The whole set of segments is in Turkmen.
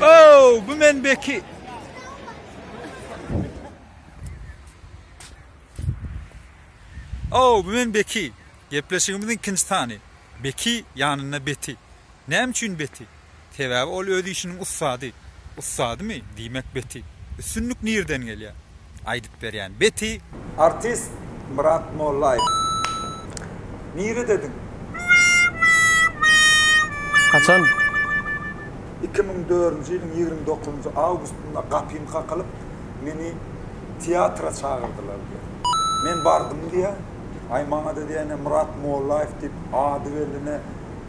Oh, bu men beki. Oh, bu men beki. Gepleşigimiziň ikinci sany. Beki yanında beti. Näme üçin beti? Sebäbi ol öz işiniň ussady. Ussadymy? Diýmek Beti. Üstünlik nirden gelýär? Aýdyp berýän. Beti! Artist Myrat Mollaýew. Niredediň? Haçan? Iki müň dördünji ýylyň ýigrimi dokuzynjy awgustynda gapym kakylyp, meni teatra çagyrdylar diýýär. Men bardym diýýär. Aý, maňa-da diýýär, ine, Myrat Mollaýew diýip, ady belli, ine,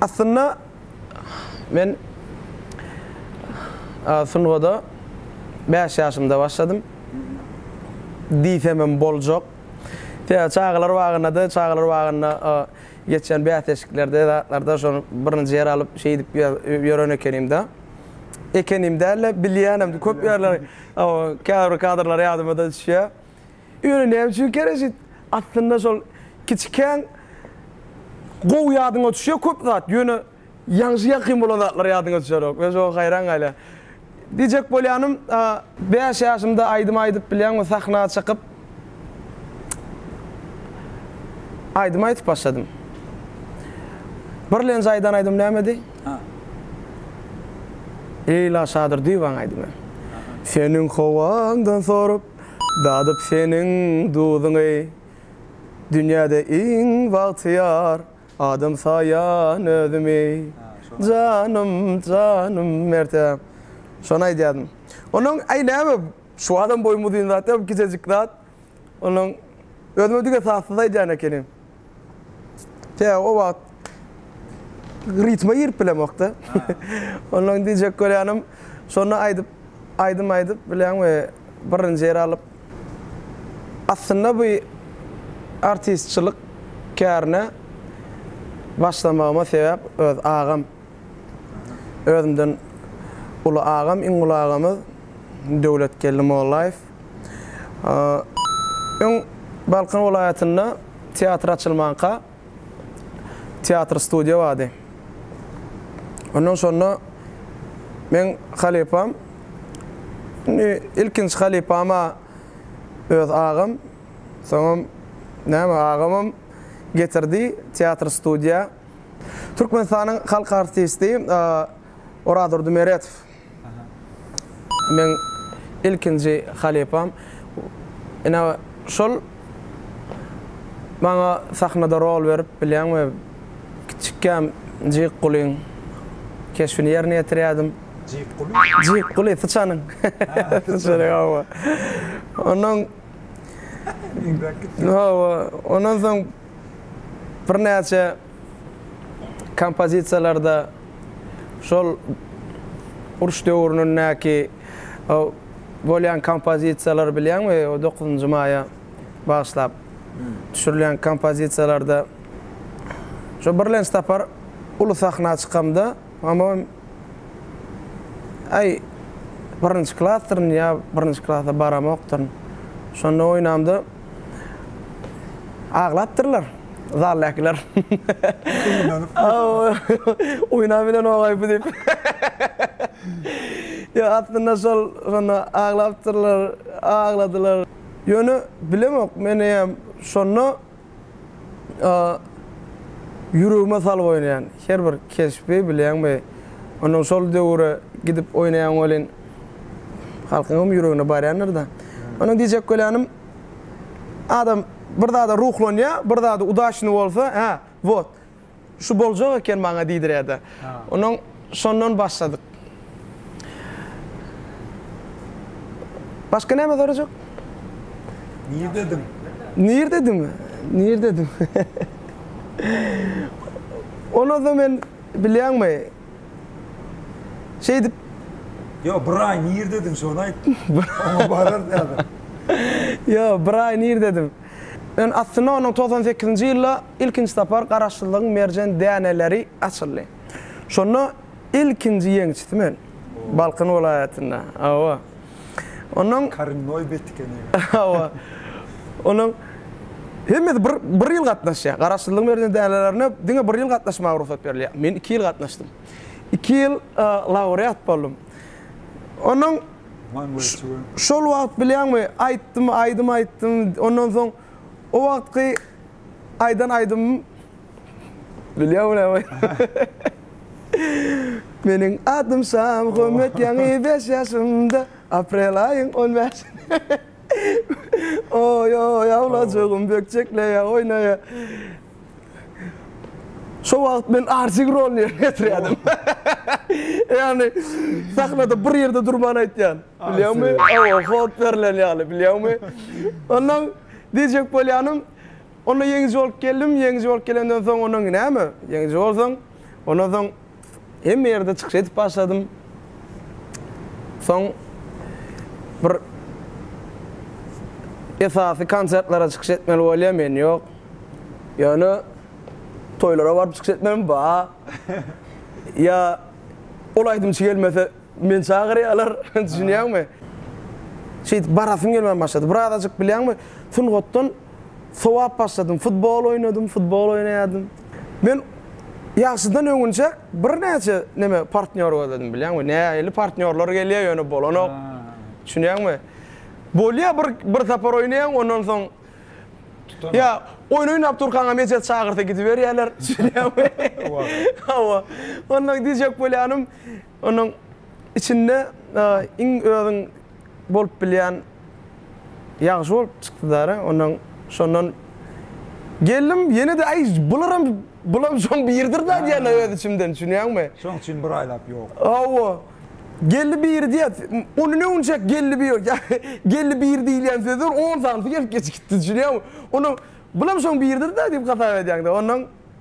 Aslynda men sungada bäş ýaşymda başladym diýsemem boljak. Sebäbi çagalar bagynda-da, çagalar bagynda geçýän bäsleşiklerde, zatlarda şol birinji ýer alyp, şeýdip ýören ekenim-de. Ekenim däl-de, bilýänem köp ýerler, käbir kadrlar ýadyma-da düşýär. Ýöne näme üçin kerejit? Aslynda şol kiçikäň gowy ýadyňa düşýär köp zat, ýöne ýaňşy ýakyn bolan zatlar ýadyňa düşerok. Men şoňa haýran galýan. Diýjek bolýanym, bäş ýaşymda aýdym aýdyp bilýän we sahna çykyp aýdym aýdyp başladym. Birlenji aýdan aýdym nämedi? Leýla Şadyr Diwan aýdymy. Seniň howaňdan sorup. Dadyp seniň duzuňy Dünýäde iň bagtyýar Adam saýan özümi Janym janym Mertde şony aýdýardym Onuň aý näme şu adam boýum uzyn zat ýok gijejik zat Onuň özüme diňe sazsyz aýdýan ekenim Tä o wagt ritme girip bilemokda. Ondan diýjek bolýanym, şonda aýdyp, aýdym aýdyp bileňmi, birinji ýeri alyp. Aslynda bu artistçilik kärine başlamagyma sebäp öz agam. Özümden uly agam, iň uly agamyz Döwletgeldi Mollaýew. Öň Balkan welaýatynda teatr açylmanka teatr studiýa bardy. Ondan şonda meň halypam, indi ilkinji halypam-a öz agam, soňam näme agamam getirdi teatr studiýa. Türkmenistanyň halk artisti Orazurdy Meretow. Meň ilkinji halypam ine şol. Maňa sahnada rol berip bilýäňmi? Kiçikkäm Jikgulyň keşbini ýerine ýetirýärdim. Jikguly? Jikguly, syçanyň. Syçanyň, hawa. Onnoň Hawa, ondan soň birnäçe kompozisiýalarda. şol uruş döwrünindäki bolýan kompozisiýalary bilýäňmi? O dokuzynjy maýa bagyşlap düşürilýän kompozisiýalarda şo birlenç tapar uly sahna çykamda, hamam äý birinji klasdyryn ýa birinji klasa baramokdyryn. Şonda oýnamda aglapdyrlar. Zaldakiler. Oýna bilen ogaý bu diýip. Ýa aslynda şol şonda aglapdyrlar, agladylar. Ýöne bilemok men eýýäm şonda ýüregime salyp oýnaýan her bir keşbi bilýäňmi? Ondan şol döwüre gidip oýnaýan welin halkyňam ýüregine barýandyr-da. Ondan diýjek bolýanym. Adam bir zada ruhlanýa, bir zada udaçny bolsa, hä, wot. Şu boljak eken maňa diýdiräýdi. Onuň şondan başladyk. Başga näme sorajak? Nirdediň? Nirdedimi? Nirdedim? Onada men bilýäňmi? Şeýdip. Ýo, bir aý nirdediň, şony aýt. Oňa bararys häzir. Ýo, bir aý nirdediň. Ön aslynda onuň togsan sekizinji ýylda ilkinji sapar Garaşsyzlygyň merjen däneleri açyldy. Şonda ilkinji ýeňçisi men. Balkan welaýatynda. Hawa. Onuň Korennoi betkeni. Hawa. Onuň hemmesi bir bir ýyl gatnaşýar. Garaşsyzlygyň berlen dänelerine diňe bir ýyl gatnaşmaga rugsat berilýär. Men iki ýyl gatnaşdym. Iki ýyl laureat boldum. Onuň şol wagt bilýäňmi, aýtdym, aýdym aýtdym. Ondan soň o wagtky aýdan aýdymym Bilýär bu näme? Meniň adym Şam, Hommet ýaňy beş ýaşymda, aprel aýyň on bäşinde. Oý-oý, awlajygym bökjekleýär, oýnaýar. Şo wagt men Arjig roluny ýerine ýetirýärdim. Ýagny, sahnada bir ýerde durman aýtýan. Bilýäňmi? Hawa, hod berlen ýaly, bilýäňmi? Onnoň diýjek bolýanym, Onda ýeňiji bolup geldim, ýeňiji bolup gelemden soň ondan näme, ýeňiji bolsaň, ondan soň hemme ýerde çykyş edip başladym. Soň bir esasy konsertlere çykyş etmeli bolýar, men ýok. Ýöne toýlara baryp çykyş etmem ba. Ýa ol aýdymçy gelmese, meni çagyrýarlar, düşünýäňmi? Şeýdip barasyň gelmän başlady. Bir azajyk bilýäňmi, sungatdan Sowap başladym. Futbol oýnadym, futbol oýnaýardym. Men ýagşydan öňünçäk birnäçe neme partnýor gözledim bilýäňmi? Nähili partnýorlar gelýär ýöne bolanok. Düşünýäňmi? Bolýar bir bir sapar oýnaýaň ondan soň ýa oýun oýnap durkaňam eje çagyrsa gidiberýärler. Düşünýäňmi? Hawa. Onda diýjek bolýanym Onuň içinde iň özüň bolup bilýän ýagşy bolup çykdy dara. Ondan şondan geldim, ýene-de aý bularam bulam şoň biridir da diýýän öz içimden düşünýäňmi? Şoň üçin bir aýlap ýok. Hawa. Geldi biri diýýär. Ony ne günjek geldi biri ýa geldi biri diýilýän sözler on sanysy gelip geçip gitdi düşünýäňmi? Ondan bulam şoň biridir da diýip hasap edýäň-de. Ondan.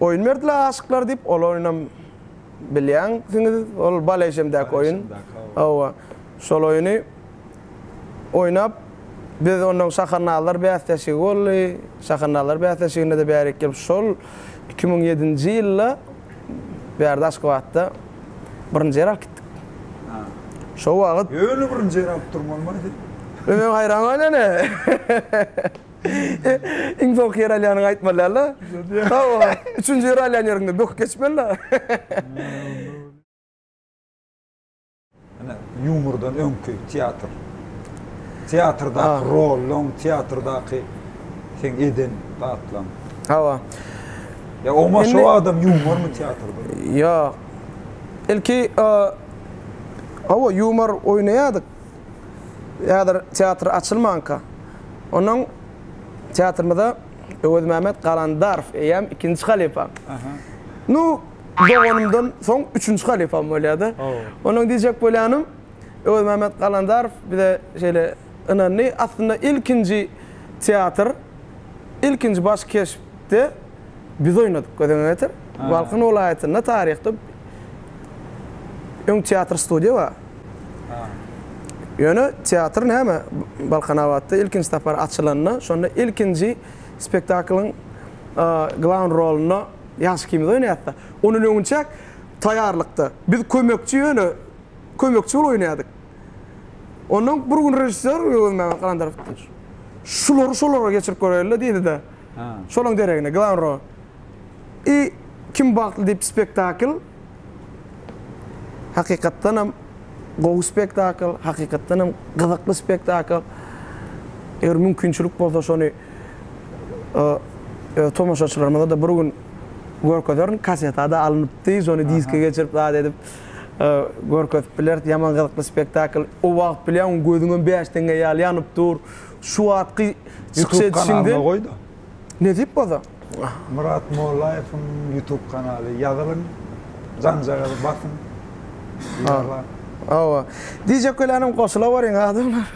Oýun berdiler aşyklar diýip, ol oýunam bilýäňsiňiz, ol Baležemdäki oýun. Hawa, şol oýuny oýnap, biz onnoň Şahannalylar bäsleşigi boldy. Şahannalylar bäsleşiginde-de bärik gelip, şol iki müň ýedinji ýylda bärde Aşgabatda birinji ýer alyp gitdik. Şo wagt. Ýöne birinji ýer alyp durmalymaýdy. Men haýran galynan-a. Iň soňky ýer alýanyňy aýtmalyala. Hawa, üçünji ýer alýan ýeriňde böküp geçmeli-la. Ine, ýumordan öňki teatr. Teatrdaky roluň, teatrdaky seň eden zatlaryň. Hawa. Ýa oňa şo adam ýumormy teatrda? Ýok. Ilki, hawa, ýumor oýnaýardyk. häzir teatr açylmanka, onuň teatrymyza Öwezmämet Galandarow eýäm ikinji halypa. Nu, doganymdan soň üçünji halypam bolýar-da. Onuň diýjek bolýanym, Öwezmämet Galandarow bize şeýle ynandy. Aslynda ilkinji teatr, ilkinji baş keşpde biz oýnadyk, gözüňe getir. Balkan welaýatynda taryhda öň teatr-studiýa bar. Ýöne teatr näme, Balkanabatda ilkinji sapar açylanda, şonda ilkinji spektaklyň glawn rolunda ýaş ikimiz oýnaýarys-da. Ondan öňünçäk taýýarlykda biz kömekçi ýöne, kömekçi bolup oýnaýardyk. Onda bir gün režissýor Öwezmämmet Galandarow, Şulary şolara geçirip göräýeli-le diýdi-de. Şolaryň deregine glawn rol. I Kim bagtly diýip spektakl hakykatdanam gowy spektakl, hakykatdanam gyzykly spektakl. Eger mümkinçilik bolsa şony öz tomaşaçylarymyza-da bir gün görkezerin. Kaseta-da alnypdy, şony diske geçirip zat edip görkezip bileris. Ýaman gyzykly spektakl. O wagt bilýäňmi gözüňem bäş teňňe ýaly ýanyp dur. Şu wagtky çykyş edişiňden. Ýutub kanalyna goý-da. Ne diýip bolsa? Myrat Mollaýewiň YouTube kanaly ýazylyň janjagazy basyň ýaglap. Hawa. Diýjek gelänim goşula beriň adamlar.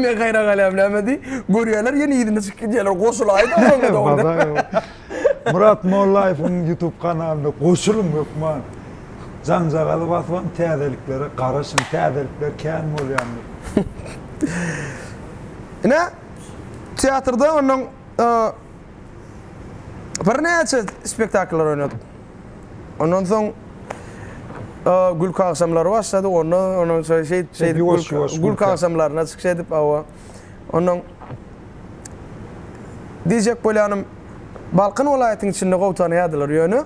Men haýran galýan näme diý görýäler ýene yzyna çykyp gidýäler goşulaýda oňa dogry. Myrat Mollaýewiň YouTube kanalyna goşulyň hökman janjagazy basypam täzeliklere garaşyň täzelikler kän bolýandyr. Ine. Teatrda ondan birnäçe spektakllar oýnadyk. Ondan soň gülki agşamlary başlady. Onda onuň şeýdip şeýdip şeýdip gülki agşamlaryna çykyş edip awa. Ondan diýjek bolýanym Balkan welaýatynyň içinde gowy tanaýardylar. Ýöne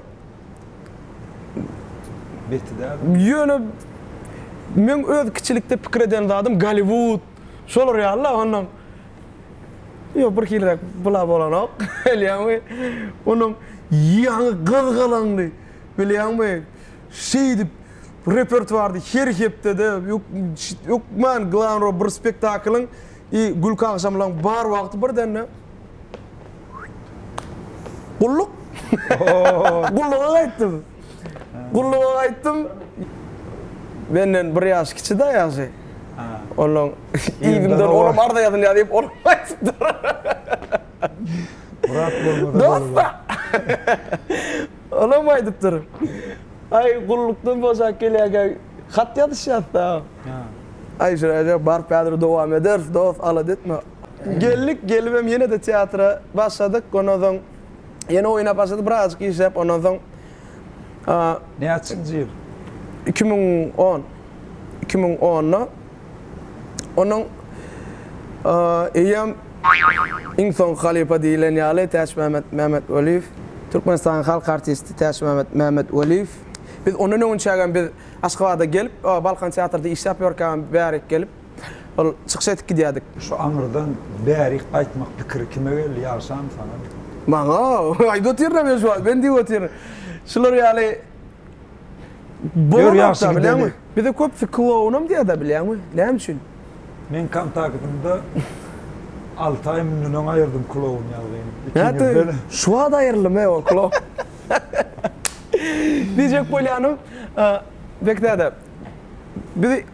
Ýöne meň öz kiçilikde pikir eden zadym Golliwud Şolar ýaly-la onuň Ýok, birhiliräk bula bolanok, bilýäňmi? Onuň ýaňy gyzgalaňly, bilýäňmi, şeýdip repertuarda her hepde-de hökman glavny rol bir spektaklyň i gülki agşamlaryň bar wagty birdende Gulluk. Gulluga gaýtdym. Gulluga gaýtdym. Menden bir ýaş kiçi-da ýagşy. Onuň yzyndan olam arza ýazylýar diýip olam aýdypdyr. Dost-a! Olam aýdypdyr. Aý, gullukdan boşap gelýärkä hat ýazyşýas-da. Aýşiraja, baryp häzir dowam ederis, dost, alada etme. Geldik, gelibem ýene-de teatra başladyk. Ondan soň. Ýene oýna başlady, birazajyk işläp, ondan soň Näçinji ýyl? Iki müň on. Iki müň onda onuň eýýäm iň soňky halypa diýilen ýaly Täçmämmet Mämmetweliýew, Türkmenistanyň halk artisti Täçmämmet Mämmetweliýew. Biz ondan öňünçägem biz Aşgabada gelip, Balkan teatrda işläp ýörkägem bärik gelip, Ol çykyş edip gidýärdik. Şu aňyrdan bärik gaýtmak pikiri kime geldi, ýagşamy, saňamy? Maňa! Aýdyp otyryn-a men şu wagt, men diýip otyryn. Şular ýaly bolanok-da, bilýäňmi? Bize köpüsi klounam diýer-de, bilýäňmi? Näme üçin? Men kontaktymda alty aý mundan öň aýyrdym kloun ýazgyny. Nätdim, şu wagt aýryldym-a ol kloun. Diýjek bolýanym, Bekdäde, biz.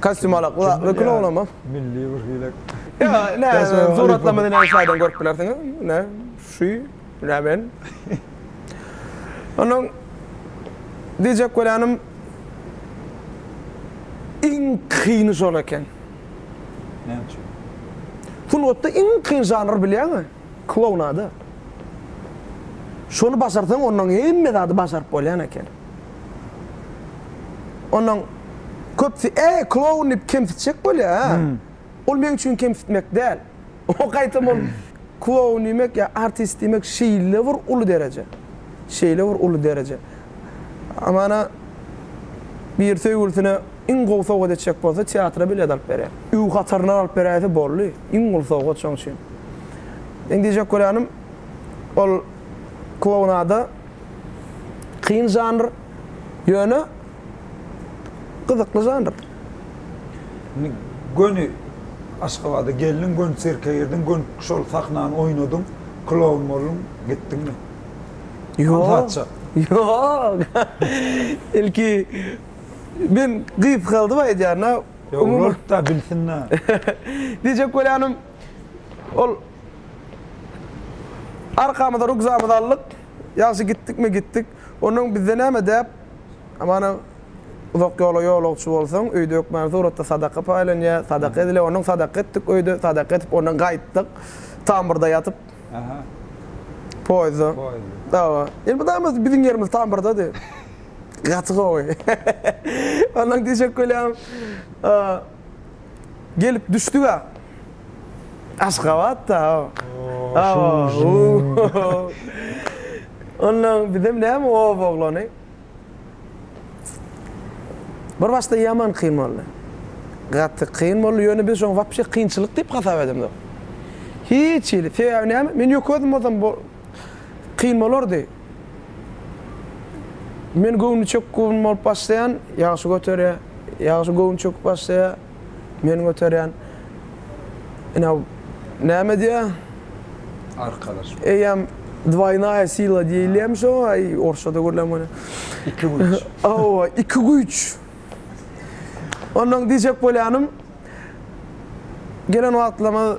Kostýum alak we we kino olamam. Milli bir hile. Ýa, nä, suratlama diýen şaýdan görüp bilersiňiz. Nä, şu, nä men. Onnoň diýjek bolýanym iň kyny şol eken. Näme üçin? Sungatda iň kyn žanr bilýäňmi? Klounada. Şony başarsaň, onnoň hemme zady başaryp bolýan eken. Ondan köpüsi, Äý, kloun diýip kemsitjek bolýar, hä? Ol meň üçin kemsitmek däl. Oňa gaýtam ol kloun diýmek ýa artist diýmek şeýle bir uly dereje. Şeýle bir uly dereje. Amana bir söýgülisine iň gowy sowgat etjek bolsa, teatra bilet alyp berýär. Öý hataryndan alyp beräýse boldy. Iň uly sowgat şoň üçin. Meň diýjek bolýanym, ol klounada. Kyn žanr, ýöne gyzykly žanr. Indi göni Aşgabada geldiň, göni sirke girdiň, göni şol sahnany oýnadyň, kloun bolduň, gitdiňmi? Ýok, ýok. Ilki men gysgaldyp aýdýan-a. Ýok, ol-da bilsin-dä. Diýjek bolýanym. Ol arkamyza rugzamyzy aldyk. Ýagşy gitdikmi gitdik. Ondan bizde näme däp? Amana uzak ýola ýolagçy bolsaň, öýde hökmany suratda sadaka paýlanýar, sadaka edilýär. Ondan sadaka etdik öýde, sadaka edip ondan gaýtdyk. Tamburda ýatyp. Aha. Poýezde. Poýezde. Awa. Indi bu daýymyz biziň ýerimiz tamburdady. Gaty gowy. Ondan düşek bolýarys. Gelip düşdüga Aşgabatda Ondan bizem näme oba oglany Bir başda ýaman kyn boldy. Gaty kyn boldy, ýöne biz şony wapşe kynçylyk diýip hasap edemzok. Hiç hili, sebäbi näme? Men ýöke özüm bolsam Kyn bolardy. Men göwni çökük gurun bolup başlaýan, ýagşy göterýär. Ýagşy göwni çöküp başlaýar, men göterýän. Ine, näme diýýär? Arkalaşma. Eýýäm dwaýnaýa sila diýilýärmiş oňa, orusçada görläm welin. Iki güýç. Hawa, iki güýç. Ondan diýjek bolýanym, gelen wagtlarymyz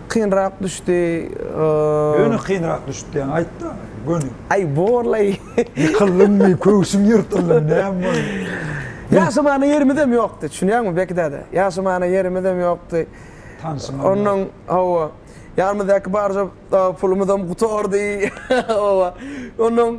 kynrak düşdi. Göni kynrak düşdi diýen aýtda, göni. Aý borlaý. Ýykyldyňmy, köwşüň ýyrtyldymy, näme boldy? Ýaşamana ýerimizem ýokdy, düşünýäňmi Beki däde? Ýaşamana ýerimizem ýokdy. Tanşymam ýokdy. Ondan, hawa, ýanymyzdaky barja pulumyzam gutardy. Hawa. Ondan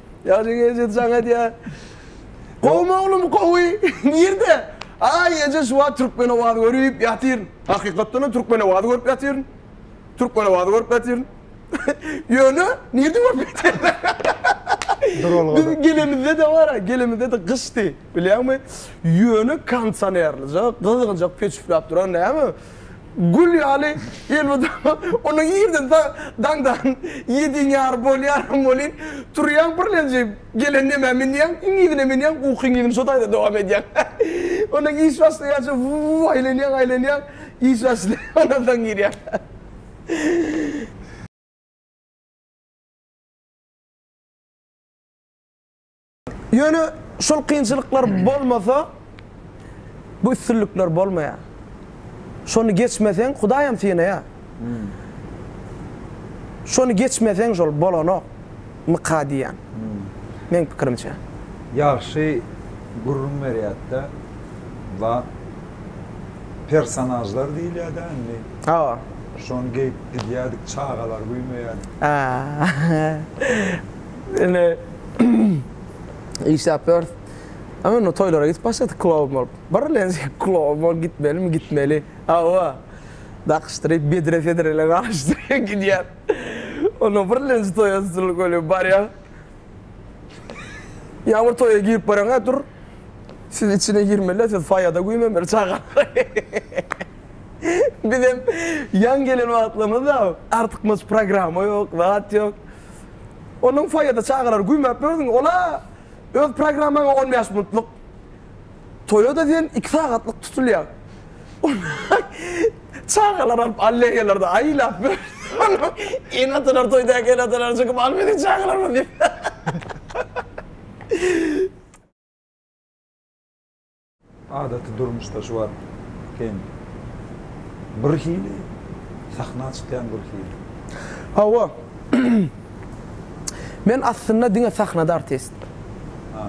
Ýagşy gije jaň edýär. Gowmy oglum gowy. Nirde? Aý eje şu wagt Türkmenowazy görüp ýatyryn. Hakykatdanam Türkmenowazy görüp ýatyryn. Türkmenowazy görüp ýatyryn. Ýöne nirde görüp ýatyryn. Duralgada. Biz gelemizde-de bar-a, gelemizde-de gyşdy. Bilýäňmi? Ýöne kondisionerlija gyzgyljak peçipläp duran näme? Gül ýaly elmydama onuň ýerine daňdan ýediň ýar bolýaram welin, turýaň birlenji, gelen nämä münýäň, iňňidine münýäň, uky iňňidini şo taýda dowam edýäň. Ondan iş başlaýança wuw aýlanýaň, aýlanýaň, iş başlaýar, ondan soň girýäň. Ýöne şol kynçylyklar bolmasa, bu üstünlikler bolmaýar. Şony geçmeseň, Hudaýam synaýar. Şony geçmeseň, şol bolanok, myka diýýän, meň pikirimçe. Ýagşy gürrüň berýärdi-de, ba, personažlar diýilýär-dä indi. Hawa. Şony geýip gidýärdik, çagalar güýmeýärdi. Indi. işläp ýörüs. Ama onda toýlara gidip başladyk klowun bolup. Birlen klowun bolup gitmeli mi? Gitmeli. Awa. Dakyşdyryp bedre fedrele garaşdyryp gidýär. Onda birlenji toýa stully golýup barýar. Ýa bir toýa girip baraňa dur. Siz içine girmeli, siz faýada güýmemeli çagalar. Bizem ýaň gelen wagtlarymyzda artykmaç programma ýok, zat ýok. Onuň foýede çagalary güýmäp bördüň, ol-a öz programmaňa on bäş minutlyk. Toýa-da diýen iki sagatlyk tutulýar. Ony çagalar alyp alleýalary-da aýlap bördi. Ene-atalar toýdaky ene-atalar çykyp Al biziň çagalarymyz diýip. Adaty durmuşda şu wagt sen bir hili, sahna çykýaň bir hili. Hawa. Men aslynda diňe sahnada artist. Ha.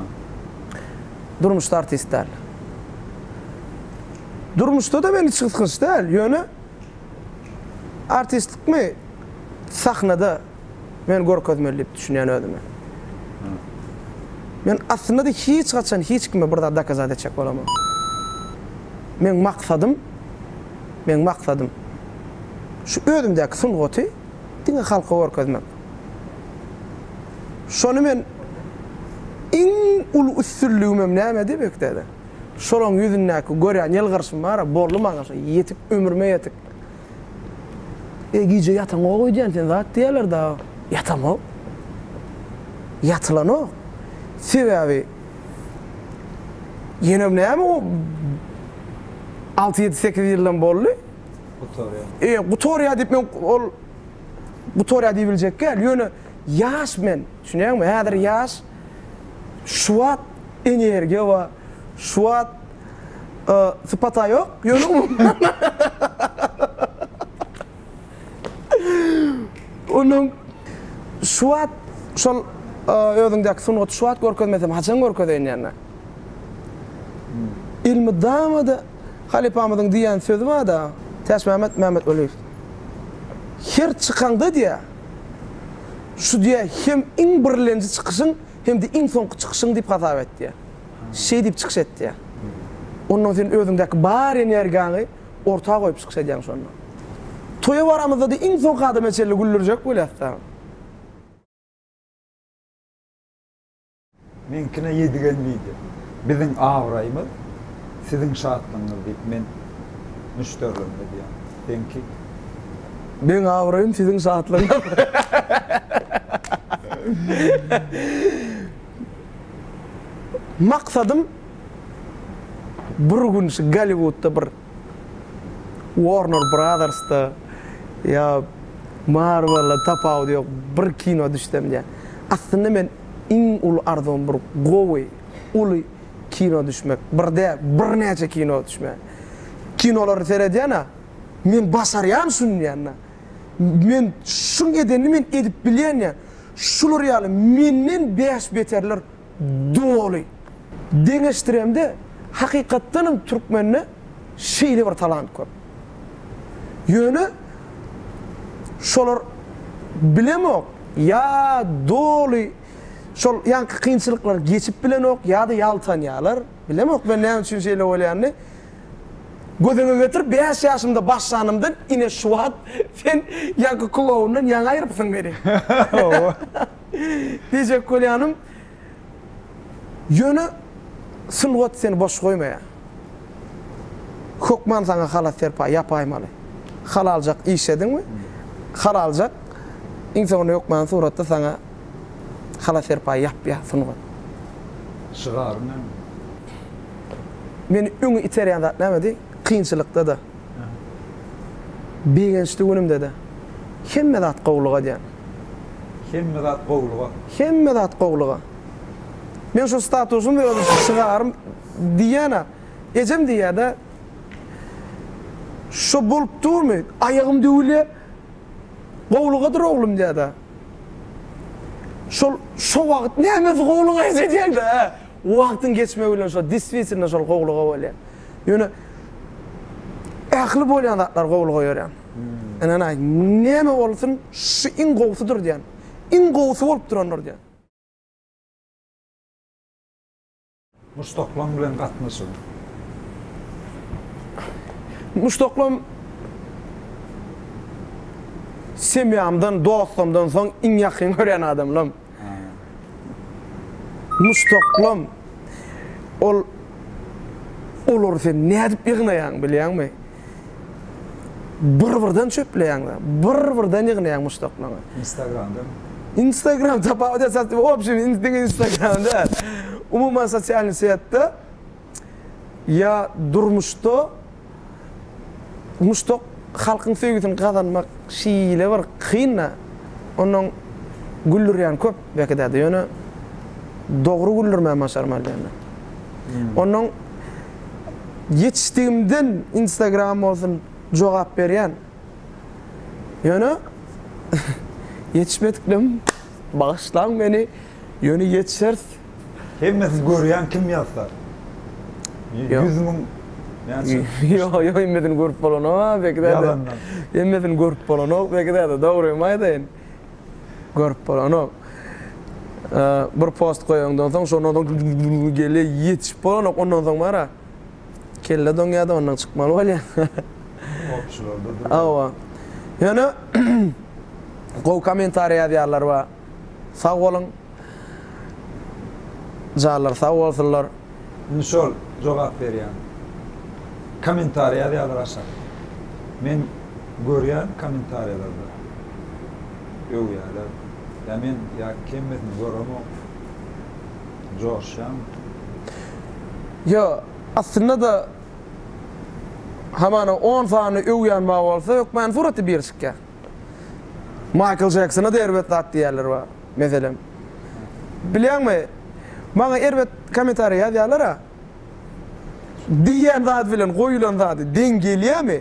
Durmuşda artist däl. Durmuşda-da men hiç gysgynç däl, ýöne artistlikmi sahnada Men görkezmeli diýip düşünýän özüme. Men aslynda-da hiç haçan hiç kime bir zat dokazat etjek bolamok. Meň maksadym, meň maksadym şu özümdäki sungaty diňe halka görkezmek. Şony men iň uly üstünligimem nämedi bekdede? Şolaň ýüzündäki görýän ýylgyryşym bar-a, boldy maňa şu ýetik, ömrüme ýetik. Eý, gije ýataňok öýdýän sen zat diýerler dagy. Ýatamok. Ýatylanok. Sebäbi ýenem näme o alty-ýedi-sekiz ýyldam boldy. Gutarýa. E, gutarýa diýip men ol gutarýa diýibiljek däl. Ýöne ýaş men. Düşünýäňmi? Häzir ýaş. Şu wagt energiýa bar. Şu wagt Ee, sypata yok, yöne Onuň şu wagt şol özüňdäki sungaty şu wagt görkezmesem haçan görkezeýin ýa-da. Elmydama-da halypamyzyň diýen sözi bar-da, Täçmämmet Mämmetweliýew. Her çykaňda diýýär, şu diýýär hem iň birlenji çykyşyň, hem-de iň soňky çykyşyň diýip hasap et diýýär. Şeý diýip çykyş etýär. Onnoň sen özüňdäki bar energiýaňy orta goýup çykyş edýäň şonda. Toýa baramyzda-da iň soňky adama çenli güldürjek bolýas dagy. Meňkine ýedigen wideo. Biziň abraýymyz, siziň şatlygyňyz diýip men müşderilerime diýýän. Seňki? Meň abraýym, siziň şatlygyňyz. Maksadym bir gün şu Golliwudda bir Warner Brothersda ýa Marvel-a tapawudy ýok bir kino düşsem diýýän. Aslynda men iň uly arzuwym bir gowy, uly kino düşmek. Bir däl, birnäçe kino düşmek. Kinolary seredýän-ä, men başarýan şuny diýýän-ä. Men şuň edenini men edip bilýän diýýän. Şular ýaly menden bäş beterler doly. Deňeşdiremde, hakykatdanam türkmende şeýle bir talant köp. Ýöne şolar bilemok, ýa doly şol ýaňky kynçylyklary geçip bilenok, ýa-da ýaltanýarlar. Bilemok men näme üçin şeýle bolýanyny. Gözüňe getir, bäş ýaşymda başlanymdan ine şu wagt sen ýaňky kuwawyndan ýaňy aýrypsyň meni. Diýjek bolýanym, ýöne sungat seni boş goýmaýar. Hökman saňa halas serpaý ýapaýmaly. Halaljak iş ediňmi, halaljak, iň soňunda hökman suratda saňa halas serpaý ýapýar sungat. Şygaryň näme? meni öňe iterýän zat nämedi? Kynçylykda-da, begençli günümde-de hemme zat gowulyga diýen. Hemme zat gowulyga. Hemme zat gowulyga. Meň şu statusym we öz şygarym diýýän-ä. Ejem diýýär-de, Şo bolup durmy? Aýagym döwülýär. Gowulygadyr oglum diýýär-de. Şol şo wagt nämesi gowulyga eje diýeň-dä, hä? Wagtyň geçmegi bilen şol diswitilno şol gowulyga bolýar. Ýöne ähli bolýan zatlar gowulyga ýörýär. Ynanaý, näme bolsun, şu iň gowusydyr diýýän. Iň gowusy bolup durandyr diýýän. Muşdaklaň bilen gatnaşygyň? Muşdaklam semýamdan, dostumdan soň iň ýakyn görýän adamlarym. Mustoklam ol olary sen nädip ýygnaýaň bilýäňmi? Bir birden çöpleýäňda, bir birden ýygnaýaň mustoklaňy. Instagramdan. Instagram tapawut esas obşin diňe instagram däl. Umuman sosialny setde. ýa durmuşda muşduk halkyň söýgüsini gazanmak şeýle bir kyn-da, ondan güldürýän köp belki däde, ýöne dogry güldürmäni başarmaly diýende. Ondan ýetişdigimden Instagram bolsun jogap berýän. Ýöne ýetişmediklerim bagyşlaň meni. Ýöne ýetişers. Hemme siz görýän kim ýazsa. Ýüz müň näçe. Ýok ýok hemmesini görüp bolanok Beki däde. Ýalandan. Hemmesini görüp bolanok Beki däde dogrymy aýdaýyn. Görüp bolanok. Bir post goýaňdan soň şondan soň gelýä ýetişip bolanok ondan soň bara. Kelle doňýada ondan çykmaly bolýa. Goşularda durýa. Hawa. Ýöne gowy kommentariý ýazýarlar wa. Sag boluň Janlar sag bolsunlar. Indi şol jogap berýän kommentariýa ýazýarlar aşakda. Men görýän kommentariýalarda öwýärler. Ýa men ýa kemmisini göremok. Joşýan. Ýo aslynda-da hamana on sany öwýän bar bolsa hökmany suraty bir çykýar. Maýkl Jeksona-da erbet zat diýýärler bar, meselem. Bilýäňmi, maňa erbet kommentariý ýazýarlar-a. Diýýän zady bilen goýulan zady deň gelýärmi?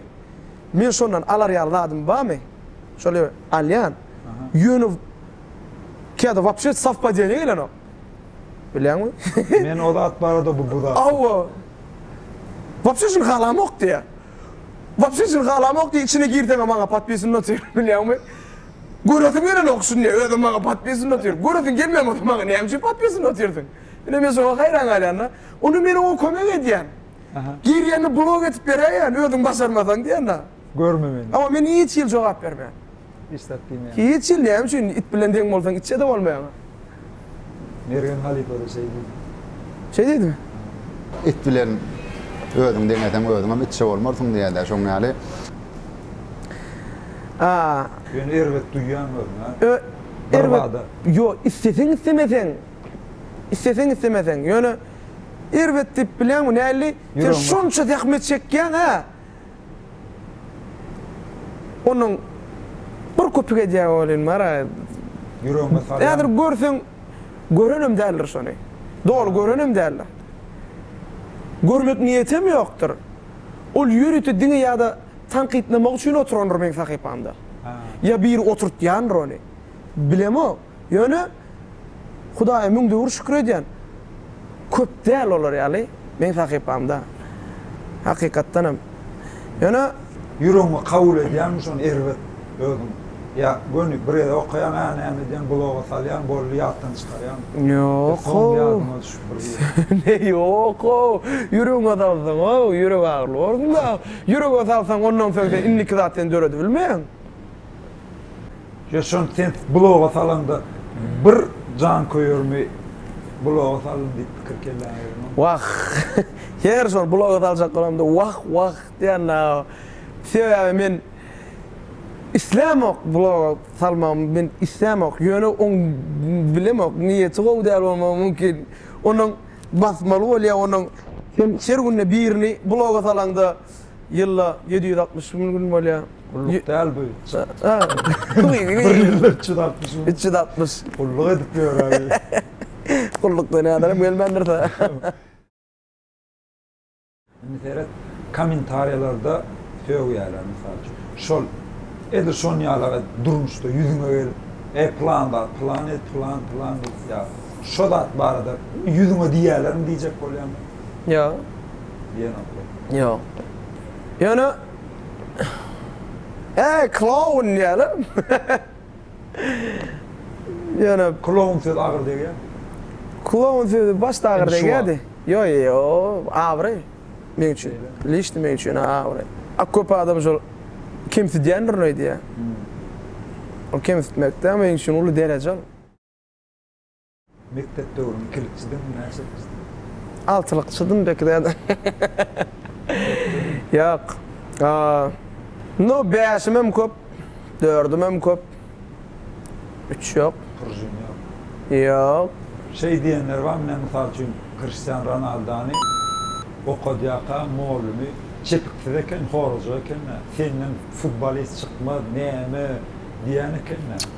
Men şondan alar ýaly zadym barmy? Şol alýan. Ýöne käte wapşe sowpadeniýa gelenok. Bilýäňmi? Men o zat barada bu zat. Hawa. Wapşe şuny halamok diýýär. Wapşe şuny halamok diýip içine girseňem maňa podpisini otyr bilýäňmi? Göresim gelenok şuny özem maňa podpisini otyr. Göresiň gelmän bolsa maňa näme üçin podpisini otyrsyň? Ine men şoňa haýran galýanda. Onda men oňa kömek edýän. Girýände blok edip beräýýän özüň başarmasaň diýende. Görme meni. Emma men hiç hili jogap bermeýän. Hiç zat diýmeýän. Hiç hil näme üçin it bilen deň bolsaň itçede bolmaýaňa. Mergen halypada şeý diýdi. Şeý diýdimi? It bilen özüňi deňeseň özüňem itçe bolmarsyň diýädä şoň ýaly. A. Ýöne erbet duýýaň özüňi a. Ö, erbet. Ýo, isleseň islemeseň. Isleseň islemeseň. Ýöne erbet diýip bilýäňmi näli? Sen şonça zähmet çekýäň a. Onuň bir köpük edýägi welin bar-a. Ýüregiňe salýarmy? Häzir görseň, görenem däldir şony. Doly görenem däldir. Görmek niýetem ýokdur. Ol ýörite diňe ýa-da tankytlamak üçin oturandyr meň sahypamda. Ýa biri oturtýandyr ony. Bilemok. Ýöne Hudaýa müň döwür şükür edýän. Köp däl olar ýaly meň sahypamda. Hakykatdanam. Ýöne. Ýüregiňe kabul edýäňmi şony erbet özüň ýa göni bir gezek okaýaň a näme edýäň bloga salýaň boldy ýatdan çykarýaň. Ýok how. Ýadyňa düşüp bir gezek. Ne ýok how. Ýüregiňe salsaň how ýürek agyrly bolsun da. Ýürege salsaň ondan soň sen indiki zat sen döredibilmeýäň. Yaşon sens bloga salanda bir janköýermi bloga saldym diýip pikir kelläňe gelen. Wah! Her şol bloga saljak bolamda wah wah diýändä. Sebäbi men islämok bloga salmagymy men islämok. Ýöne oň bilemok niýeti gowy däl bolmagy mümkin. Onuň basmaly bolýa onuň. Sen her günde birini bloga salaňda. ýylda ýedi ýüz altmyş bir gün bolýar. Gulluk däl bu. Bir ýylda üç ýüz altmyş gün. Üç ýüz altmyş. Gulluk edip ýöräýeli. Gullukda näderem gelmändir-dä. Indi seret, kommentariýalarda sögýärler, mysal üçin. Şol, edil şonuň ýaly-a durmuşda ýüzüňe gelip, Eý, pylan zat, pylan et, pylan, pylan, diýip, ýa şo zat barada ýüzüňe diýerlermi diýjek bolýarmy? Ýok. Diýenoklar. Ýok. Ýöne Äý, kloun diýerler. Ýöne Kloun sözi agyr degýär. Kloun sözi başda agyr degýärdi. Ýok, ýok, abraý meň üçin. Lişni meň üçin abraý. A köp adam şol kemsidýändirin öýdýär. Ol kemsitmek däl, meň üçin uly dereje ol. Mekdep döwrüň ikilikçidiňmi, näçelikçidiň? Altylykçydym pek zähmet. Ýok. Nu, bäşimem köp, dördümem köp. Üç ýok. Prujin ýok. Ýok. Şeý diýenler bar, men mysal üçin Kristian Ronaldany okadýarka mugallimi çepiksiz eken, horajyk eken-ä. Senden futbolist çykmaz, näme diýen eken-ä.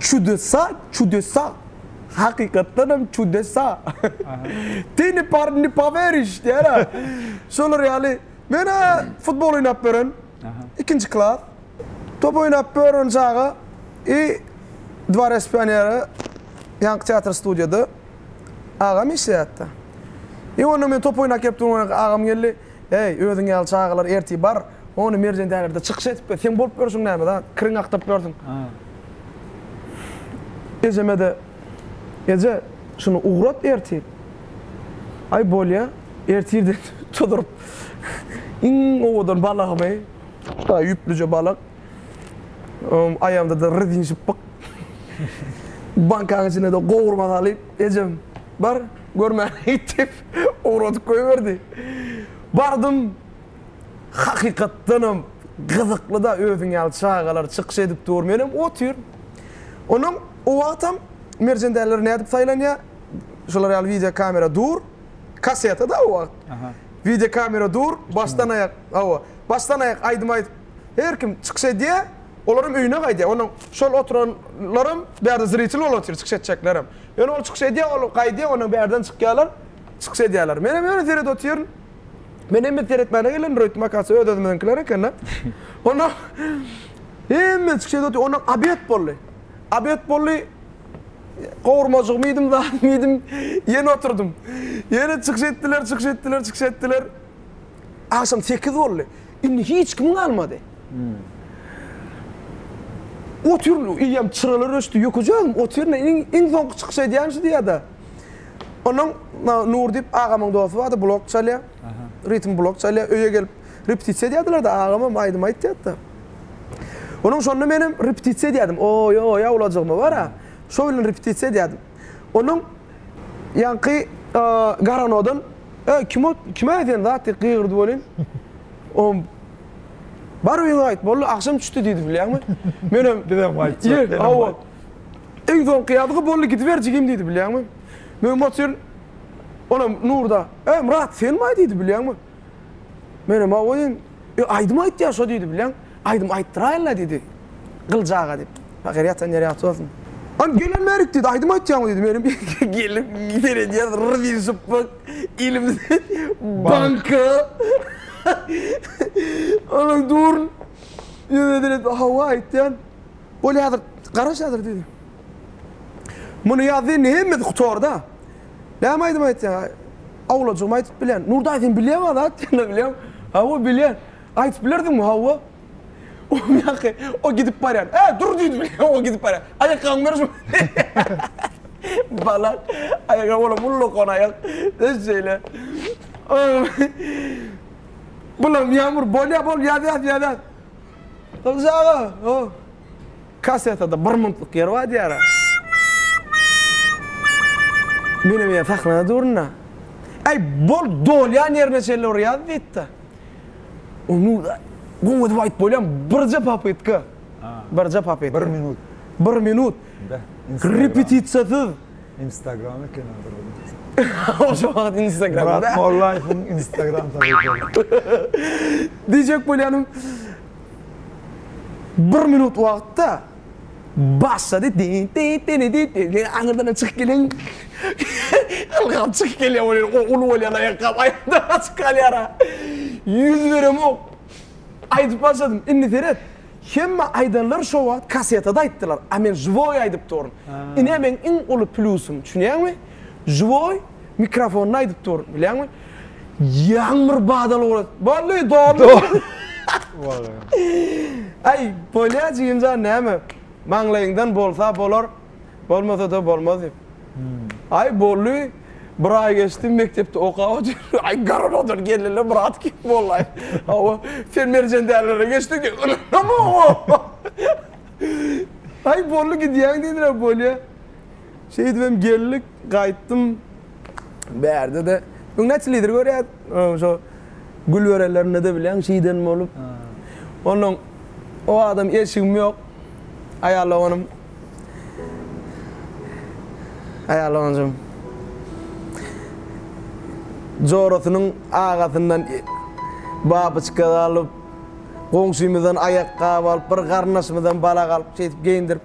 Çudesa, çudesa. Hakykatdan hem çudesa. Ty ne par ne poweriş diýer-ä. Şolar ýaly. Men-ä futbol oýnap bören. Ikinji klas. Top oýnap bören çaga i Dva respionera ýaňky teatr studiýada agam işleýärdi. I onda men top oýnak ýep durmanka agam geldi. Äý, özüň ýaly çagalar ertir bar, ony Merjentäbirde çykyş edip gel. Seň bolup ýörşüň näme zat? Kiriňi akdyryp ýörsüň. Ejeme-de, Eje, şuny ugrat ertir. Aý, bolýa, ertir diýip çoduryp, iň owadan balagymy, şutaý ýüplüje balyk, aýagymda-da rezin şypbyk, bankaň içine-de gowurma salyp, Ejem, bar, görmäge git diýip, Ugradyp goýberdi. Bardym. Hakykatdanam gyzykly-da, özüň ýaly çagalar çykyş edip dur, menem otyryn. Onnoň o wagtam Merjen däliler nädip saýlanýar? Şular ýaly wideo kamera dur, kaseta-da o wagt. Wideo kamera dur, başdan-aýak, hawa, başdan-aýak aýdym aýdyp, her kim çykyş edýär. Olaram öýüne gaýdýar. Onda şol oturanlaram bärde zritel bolup otyr, çykyş etjeklerem. Ýöne ol çykyş edýär, ol gaýdýar, ondan bärden çykýarlar, çykyş edýärler. Menem ýöne seredip otyryn. Men hemme seretmäne gelen Roýt Makasy öz-özümiziňkiler eken-le. Onda hemme çykyş edip otyr. Ondan obed boldy. Obed boldy. Gowurmajygymy iýdim, zadymy iýdim, ýene oturdym. Ýene çykyş etdiler, çykyş etdiler, çykyş etdiler. Agşam sekiz boldy. Indi hiç kim galmady. Otur, eýýäm çyralar öçdi, ýökejegem, otur, iň soňky çykyş edýänim şu diýýär-de. Onnoň Nur diýip agamyň dosty bar-da, blok çalýar. Ritm blok çalýar. Öýe gelip repetisiýa edýärdiler-de, agamam aýdym aýtýardy-da. Onuň şonda menem repetisiýa edýärdim. Oý-oý, awlajygym-a bar-a. Şo bilen repetisiýa edýärdim. Onuň ýaňky garanodan Äý, kim ot, kime aýdýan zat diýip gygyrdy welin, oňam Bar öýüňe gaýt, boldy, agşam çüşdi diýdi, bilýäňmi? Menem Bizem gaýtjak, senem Hawa. Iň soňky ýazgy boldy, gidiber jigim diýdi, bilýäňmi? Menem otyryn, onam Nurda Äý, Myrat, senmi-aý diýdi, bilýäňmi? Menem Hawa diýdim. Öý aýdym aýtýar şo diýdi bileň. Aýdym aýtdyraýynla diýdi. Gylyç aga diýip. Pahyr ýatan ýeri ýagty bolsun. Hany gelen bärik diýdi. Aýdym aýtýaňmy diýdi. Menem geldim seredýän ryr diýdi şypbyk. Elimde banka. Onuň durun ýüzüne seredip hawa aýtýan. Bolýadyr garaş häzir diýdi. Muny ýazdy indi hemmesi gutarda. Näme aýdym aýtýaň? Awlajygym aýdyp bilýän. Nur daýy sen bilýäňä zat diýende bilýän. Hawa bilýän. Aýdyp bilerdiňmi? Hawa. Oň ýaky o gidip barýan. Ä dur diýdi bilýän o gidip barýan. Aýakgabyňy ber şu. Bala aýagaby olam ullakan aýak. Öz şeýle. Bulam ýamur bolýa bol ýaz ýaz ýaz ýaz. Gylyç aga. Kassetada bir minutlyk ýer bar diýýär. Menem ýene sahnada durun-da. Äý, bol, dolýan ýerine çenli bir ýaz diýdi-de. Onda-da goň edip aýdyp bolýamy? Birje popytka. Birje popytka. Bir minut. Bir minut. Repetisiýasyz. Instagram ekeni bir minut. Oşo wagt Instagram. Murat Mollaýewiň Instagram sahypasy. Diýjek bolýanym. Bir minut wagtda başlady dididididididi aňyrdan çykyp gelen ylgap çykyp gelýär ol ýeri o uly bolýan aýakgap aýakdan gaçyp galýara ýüz beremok aýdyp başladym indi seret hemme aýdanlar şo wagt kasetada aýtdylar a men žwoý aýdyp duryn ine meň iň uly plýusym düşünýäňmi žwoý Mikrofonyna aýdyp dur, bilýäňmi? Ýagmyr badal ura. Bolly, dolly. Aý, bolýa jigimjan, näme? Maňlaýyňdan bolsa bolar, bolmasa-da bolmaz diýip. Aý, bolly. Bir aý geçdi, mekdepde okap otyr. Aý, garamadan geldiler, brat kim bollaý? Hawa, sen Merjen dälilere geçdiň diýip. Ynanamok. Aý, bolly gidýäň diýdiler, bolýa. Şeýdibem geldik, gaýtdym. Bärde-de Öň näçe lider görýäs, şo Gülberelerinde-de bilýäň şeýden bolup. Onnoň o adam eşigim ýok. Aýal doganym Aýal doganjygym jorasynyň agasyndan babyçka alyp, goňşymyzdan aýakgap alyp, bir garyndaşymyzdan balak alyp, şeýdip geýindirip.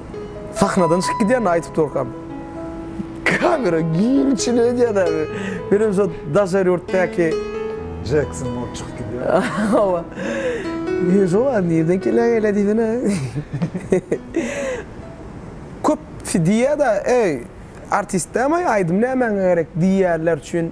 Sahnadan çykyp gidýän aýdyp durkam kamera giň içine edýän abi. Menem şo daşary ýurtdaky Jackson bolup çykyp gidýän. Hawa. Men şo wagt nirden keleň ele diýsene. Köp diýýada eý artist dämaý aýdym nämäňe gerek diýýänler üçin.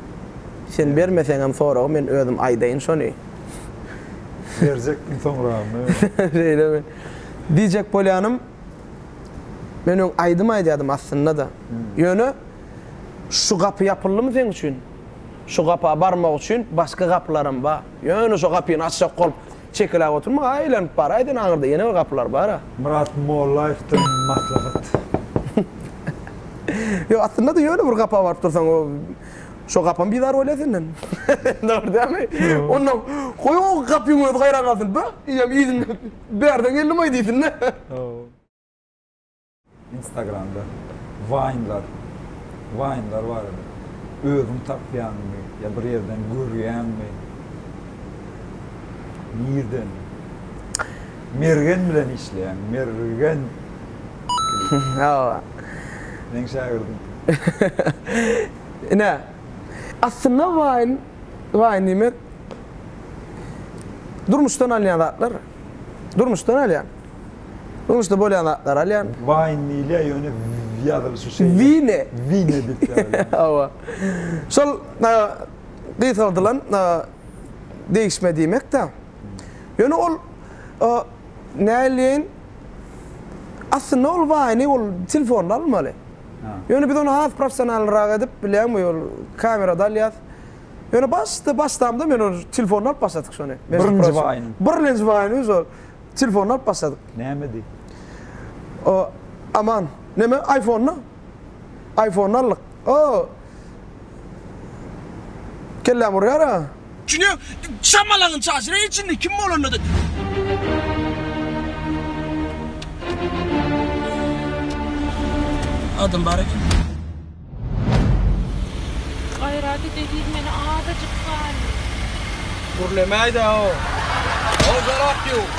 Sen bermeseňem soragy men özüm aýdaýyn şony. Berjekdim soňragyny. Şeýlemi? Diýjek bolýanym, men öň aýdym aýdýadym aslynda-da. Ýöne şu gapy ýapyldymy seň üçin? Şu gapa barmak üçin başga gapylaram bar. Ýöne şo gapyny açjak bolup. Çekeläp oturma-a, aýlanyp bar, aýdan aňyrda ýene bir gapylar bar-a. Myrat Mollaýewden maslahat. Ýok, aslynda-da ýöne bir gapa baryp dursaň, o, şo gapam bizar bolýar senden. Dogry dälmi? Onda, goý, o gapyň özi gaýran galsyn. Be, eýýäm yzyny bärden geldim-aý diýsin-dä. Instagramda Vine-lar, Vine-lar bar edi. Özüň tapýaňmy ýa bir ýerden görýäňmi? Nirden? Mergen bilen işleýän, Mergen. Hawa. Meň şägirdim. Ine, aslynda Vine, Vine diýmek durmuşdan alynýan zatlar. Durmuşdan alýan. Durmuşda bolýan zatlary alýan. Wine diýilýär, ýöne ýazylyşy şeýle. Wine. Wine diýip ýazylýar. Hawa. Şol gysgaldylan degişme diýmek-de. Ýöne ol näleýin, aslynda ol wine-i ol telefonda almaly. Ýöne biz ony has professionalnyrak edip, bilýäňmi, ol kamerada alýas. Ýöne başda başlamda men ony telefonda alyp başladyk şony. Birinji baýyny. Birlenji baýyny biz ol telefonda alyp başladyk. Näme diý? O aman. Näme iPhone-ny? iPhone-ny aldyk. O. Kelläm urýar-a. Çüne şamalaňy çaşyr eý içinde kim bolanda-da. Adam bar eken. Gaýraty degirmeni azajyk sany. Gürlemäýdä o. O zarap ýok.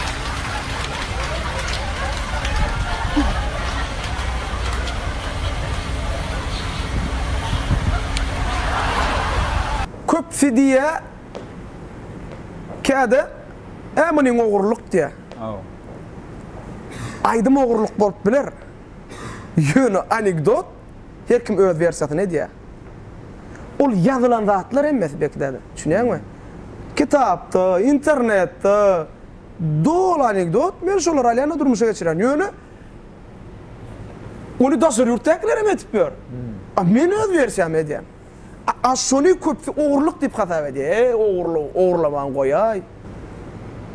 Köpsi diýýä käde Ä munyň ogurlyk diýä. Aýdym ogurlyk bolup biler. Ýöne anekdot Her kim öz wersiýasyny edýär. Ol ýazylan zatlar hemmesi belki-de, düşünýäňmi? Kitapda, internetde doly anekdot, men şolary alýan-da durmuşa geçirýän. Ýöne ony daşary ýurtdakylar hem edip ýör. A men öz wersiýamy edýän. A şony köpsi ogurlyk diýip hasap edýär. Eý, ogurlygy ogurlamagyny goýaý.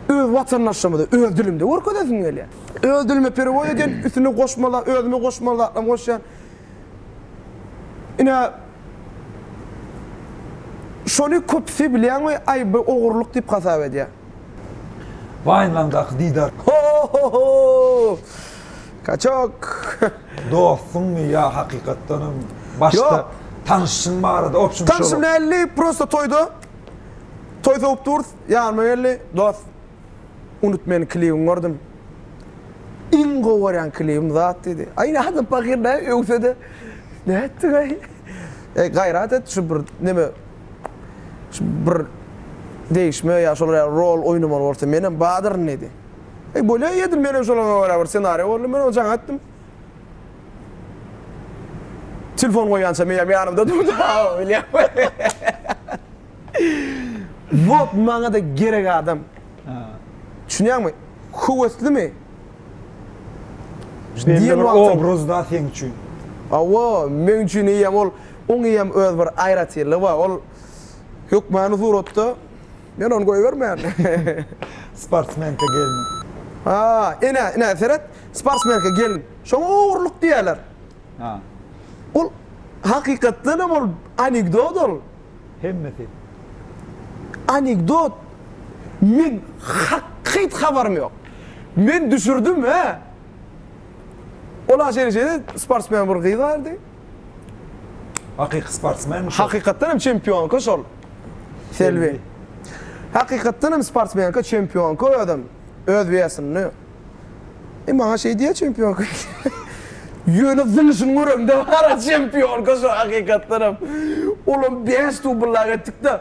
Öz watandaşymyzy öz dilimde görkezesim gelýär. Öz dilime perewoz edýän, üstüne goşmalar, özüme goşmaly zatlarymy goşýan. Ine, şony köpsi bilýäňmi, aý, bu ogurlyk diýip hasap edýär. Wine-laňdaky didar. Ho-ho-ho! Kaçok. Dostuňmy ýa hakykatdanam başda tanyşyň barada opşum şol. Tanyşym däldi prosta toýda toý sowup durus ýanyma geldi dost unut meni klibiňi gördüm iň gowy görýän klibim zat diýdi aý nädip pahyr näme öwsede nätdiň aý eý gaýrat et şu bir neme şu bir degişme ýa şolar ýaly rol oýnamaly bolsa menem badyryn diýdi. Eý, bolýa eýedim, men hem şolaryňa görä bir ssenariýa gurdum, men ony jaň etdim. Telefon goýýança meýem ýanymda durdy, hawa, bilýän. Wot maňa-da gerek adam. Düşünýäňmi? Höweslimi? Belli bir obraz da seň üçin. Hawa, meň üçin eýýäm ol, oň eýýäm öz bir aýratynlygy bar. Ol hökmany suratda Men ony goýbermeýän. Sportsmenka gelin. Ha, ine, ine, seret, sportsmenka gelin. Şoňa ogurlyk diýerler. Ha. Ol hakykatdan hem ol anekdot ol. Hemmesi. Anekdot. Men hak hyt habarym ýok. Men düşürdim, hä? Ola şeýle-şeýle sportsmen bir gyz bardy. Hakyky sportsmenmi şol? Hakykatdan hem çempionka şol. Selbi. Hakykatdan hem sportsmenka, çempionka özem. Öz wesinde. E maňa şeý diýýä çempionka. Ýöne zyňyşyny göremde wara çempionka şo hakykatdan hem. Olam bäş dubl-a etdik-de.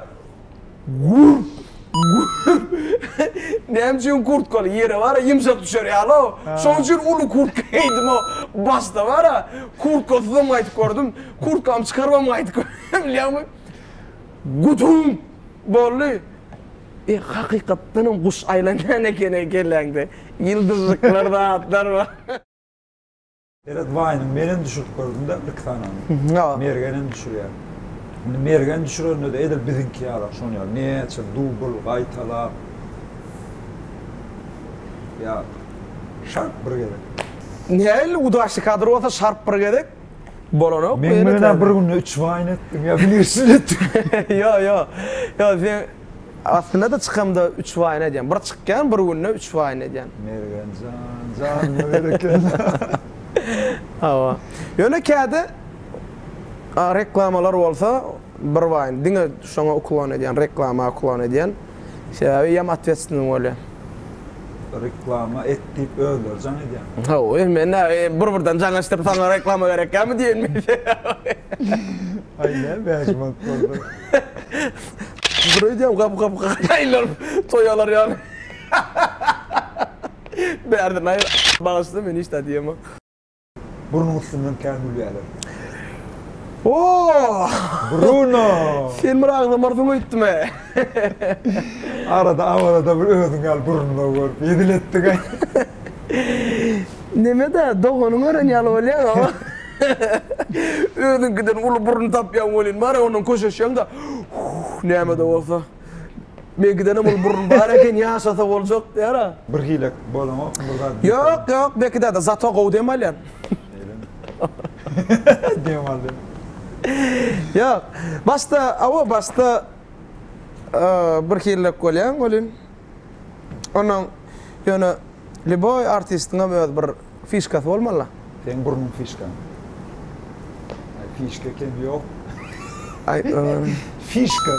Gurp! Gurp! Näme üçin kurtkaly ýere bar-a ýumşak düşer ýaly-ow. Şonuň üçin uly kurtka geýdim-ow. Başda bar-a, kurtkasyzam gaýdyp gördüm. Kurtkamy çykarybam gaýdyp gördüm, bilýäňmi? Guduň! Boldy. E, hakykatdanam guş aýlanýan eken-eý kelläňde. Ýyldyzlyklar, zatlar bar. Berat Baýynyň menem düşürip gördüm-de bir-iki sanany. Mergenem düşürýär. Indi Mergen düşürende-de edil biziňki ýalak şon ýaly näçe dubl gaýtalap ýa şarp bir gezek. Nähili udaçli kadr bolsa şarp bir gezek bolanok. Meň bilen-ä bir günde üç baýyny etdiň ýa bileşini etdiň. Ýok, ýok. Ýok, sen Aslynda-da çykamda üç waýyny edýän. Bir çykýan, bir günde üç waýyny edýän. Mergen jan, janyňa berekella. Hawa. Ýöne käde reklamalar bolsa bir waýyny. Diňe şoňa uklon edýän, reklama uklon edýän. Sebäbi ýam otwestnny bolýar. Reklama et diýip özleri jaň edýän. Hawa, men näme, bir-birden jaň açdyryp saňa reklama berekgämi diýenmi? Aý näme bäş manat bolsa. Dur öýdýän gap gap gaýlar toýalar ýaly. Bärden aýr. Bagyşla men hiç zat diýemok. Burnuň üstünden kän gülýäler. Ooh! Bruno! Sen bir agzamarsyň öýtdüm-ä. Arada awarada bir özüň ýaly Bruno görüp hezil etdik-ä. Neme-dä, doganyň gören ýaly bolýaň-a. Özüňkiden uly burun tapýaň welin bar-a ondan köşeşýäň-de, Huh, näme-de bolsa, Bekidenem uly burun bar eken, ýaşasa boljak diýär-ä. Bir hile bolaňokmy, bir zat diýip. Ýok, ýok, Beki däde, zato gowy dem alýan. Şeýlemi? Dem al dem. Ýok, başda, hawa, başda bir hilläp bolýaň welin. Ondan ýöne lýuboý artistiňem öz bir fişkasy bolmaly-la. Seň burnuň fişkaň. Aý fişka ekeni ýok. Aý fişka.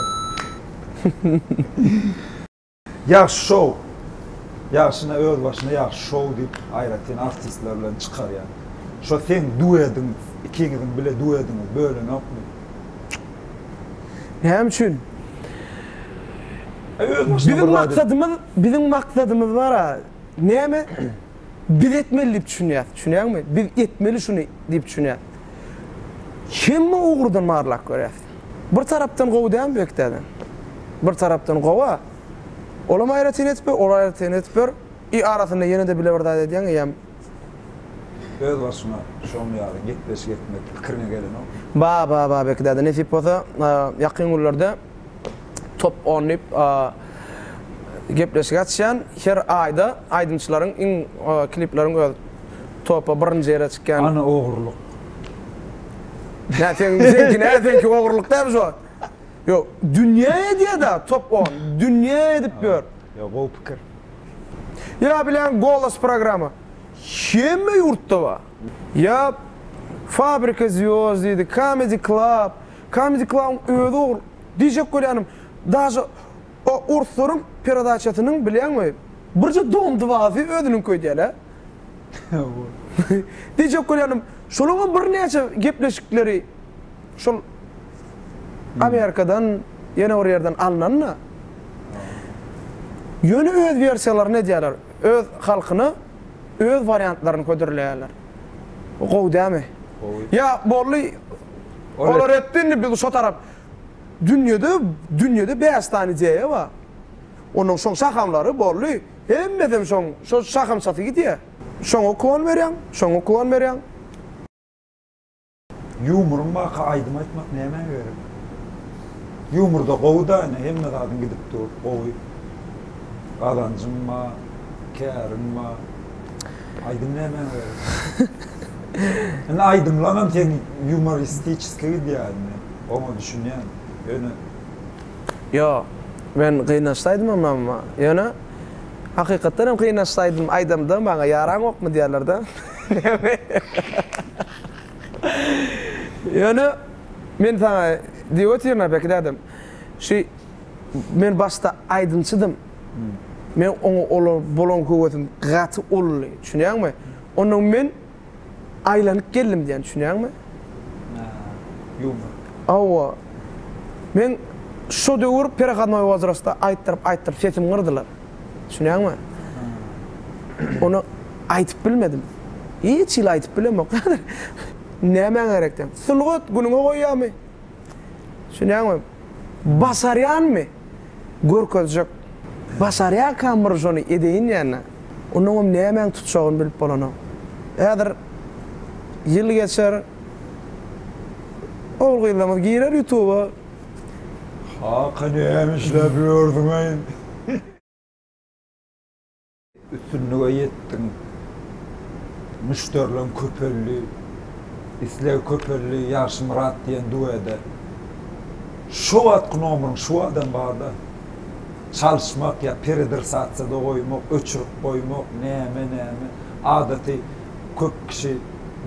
Ýagşy şou. Ýagşyna öz başyna ýagşy şou diýip aýratyn artistler bilen çykarýar. Şo seň duediň ikiňiziň bile duediňiz bölünokmy? Näme üçin? Biziň maksadymyz, biziň maksadymyz bar-a, näme? Biz etmeli diýip düşünýäs, düşünýäňmi? Biz etmeli şuny diýip düşünýäs. Hemme ugurdan barlap görýäs. Bir tarapdan gowy dälmi bekdäden? Bir tarapdan gowy-a. Olam aýratyn edip ber, olam aýratyn edip ber. I arasynda ýene-de bile bir zat edýäň eýýäm. Özbaşyňa şoň ýaly gepleşik etmek pikiriňe gelenok. Baba Babek däde nesip bolsa ýakyn günlerde top on diýip gepleşik açýan her aýda aýdymçylaryň iň klipleriň öz topa birinji ýere çykýan. Ana ogurlyk. Nä seň seňki nä seňki ogurlyk dämi şu wagt. Ýok dünýä edýäda top on dünýä edip ýör. Ýok gowy pikir. Ýa bilen Golos programma hemme ýurtda bar. Ýa Fabrika zýozd diýdi, Kamedi klab, Kamedi klabyň özi ogry. Diýjek bolýanym, daže o orslaryň peredaçasynyň bilýäňmi, birje Dom dwazy özüniňki öýdýäler. Diýjek bolýanym, şolaňam birnäçe gepleşikleri şol Amerikadan, ýene bir ýerden alnan-da. Ýöne öz wersiýalaryny edýärler. Öz halkyna öz wariantlaryny hödürleýärler. Bu gowy dälmi? Gowy. Ýa boldy, olar etdi, indi biz şo tarap. Dünýede, dünýede bäş sany ideýa bar. Onuň şoň şahamlary boldy. Hemmesem şoň şo şahamçasy gidýä. Şoňa uklon berýäň, şoňa uklon berýäň. Ýumuryň baka aýdym aýtmak nämä gerek? Ýumurda gowy-da ine hemme zadyň gidip dur gowy. Gazanjyň ba, käriň ba. Aýdym nämä gerek? Indi aýdymlaňam seň ýumoristiçeski gidýä indi. Oňa düşünýän. Ýöne. Ýo, men gynaşsaýdymam mamma. Ýöne, hakykatdan hem gynaşsaýdym, aýdamda maňa ýaraňokmy diýerler-dä. Ýöne, men saňa diýip otyryn-a Beki dädem. Şu, men başda aýdymçydym. Meň oňa bolan höwesim gaty uludy, düşünýäňmi? Onnoň men Aýlanyp geldim diýýän düşünýäňmi? Hä. Ýumor. Hawa. Men şo döwür perehodnoý wozrostda aýtdyryp aýtdyryp sesimi gyrdylar. Düşünýäňmi? Ony aýdyp bilmedim. Hiç hili aýdyp bilemok häzir. Nämäň gerekden? Sungat günüňe goýýamy? Düşünýäňmi? Başarýanmy? Görkezjek. Başarýarkanmyr şony edeýin ýa-da? Onuňam nämäni tutjagyny bilip bolanok. Häzir ýyl geçer, ogul-gyzlarymyz girer ýutuba. Kaka näme işläp ýörsüň-eý? Üstünlige ýetdiň. Müşderileň köpeldi. Isleg köpeldi Ýagşymyrat diýen duede. Şo wagtky nomeriň şu wagtam barda. Çalyşmak ýa peredrsatsiýada goýmak, öçürip goýmak, näme näme. Adaty köp kişi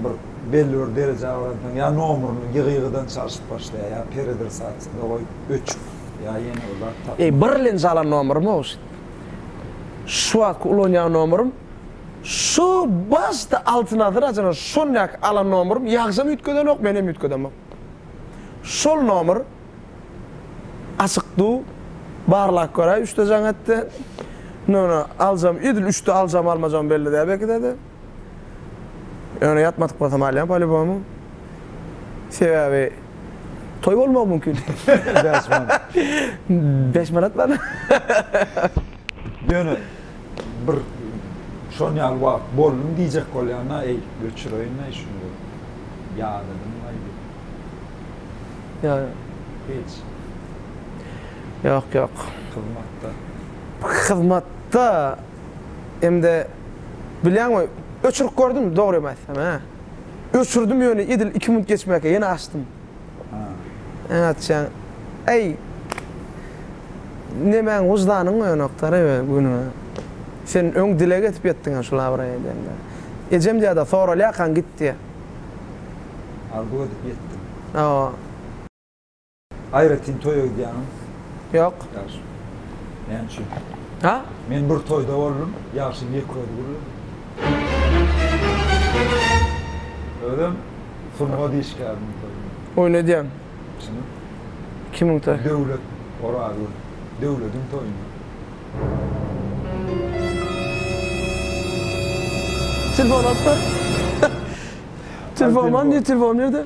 bir belli bir derejä baransoň ýa nomerini ýygy-ýygydan çalyşyp başlaýar, ýa peredrsatsiýada goýup öçüp, ýa ýene bir zat tapmak. Eý birlen jalan nomermi owşit. Şu wagtky ulanýan nomerym şu başda Altyn asyr açana şondaky alan nomerym ýagşam üýtgedenok menem üýtgedemok. Şol nomer açyk du barlap göräý üçde jaň etdi. Nona aljam edil üçde aljam almajam belli däl belki dede. Ýöne ýatmadyk bolsam alýan polibomu. Sebäbi toý bolmagy mümkin. Bäş manat. Bäş manat bar. Ýöne bir şon ýaly wagt boldum diýjek bolýan-da, eý, öçüreýin-aý şuny bir. Ýadadym-laý diýip. Ýa. Hiç. Ýok, ýok. Hyzmatda. Hyzmatda hem-de Bilýäňmi, öçürip gördüm, dogrymy aýtsam, hä. Öçürdim ýöne edil iki minut geçmäkä ýene açdym. Näme atýaň? Äý, nemäň wyždanyň oýanokda-da günüňe. Sen öň dile getip ýetdiň-ä şul abraý edende. Ejem diýýär-de, soralýarkaň git diýýär. Arzuw edip ýetdim. Hawa. Aýratyn toýa gidýäňiz? Ýok. Ýagşy. Näme üçin? Ha? Men bir toýda boldum, Ýagşyň ýeke özi gürledi. Özem sungat işgäriniň toýunda. Oýun edýän. Şunuň. Kimiň toýy? Döwlet Orazgül. Döwlediň toýunda. Telefon alyp ber. Telefon bar, nirde telefon, nirde?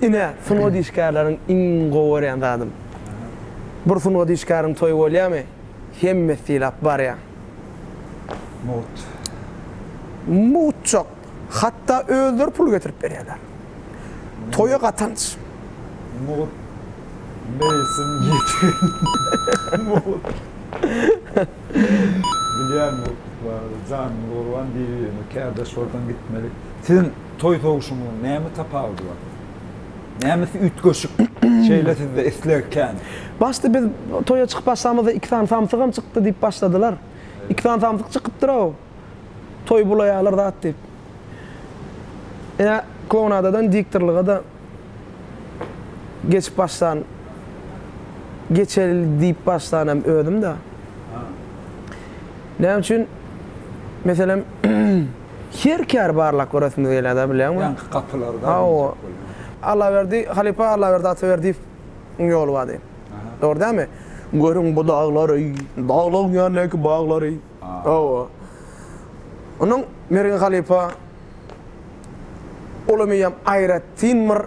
Ine, sungat işgärleriň iň gowy görýän zadym. Bir sungat işgäriň toýy bolýamy, hemmesi sylap barýa. Mugt. Mugtjak, hatda özleri pul getirip berýärler. Toýa gatanç. Mugt. Meýsim ýetim. Mugt. Bilýän mugtluk barada, janyňyz gurban, bir-birimize kärdeş bolsaň gitmedik. Siziň. Toý sowuşynyň näme tapawudy bar? Nämesi üýtgeşik? Şeýle sizde isleg kän. Başda biz toýa çykyp başlamyzda iki sany samsygam çykdy diýip başladylar. Iki sany samsyk çykypdyr-ow, toýy bulaýarlar zat diýip. Ine, klounadadan diktorlyga-da geçip başlan, geçeli diýip başlan hem özüm-dä. Näme üçin, meselem, Her kär barlak göresimiz gelýär-dä bilýäňmi? Ýaňky gapylarda diýjek bolýan. Allaberdi, halypa Allaberdi Ataberdiýew iň ýoly bady. Dogry dämi? Görüň bu daglary, daglyň ýanyndaky baglary. Hawa. Onuň Mergen halypa uly meýem aýratyn bir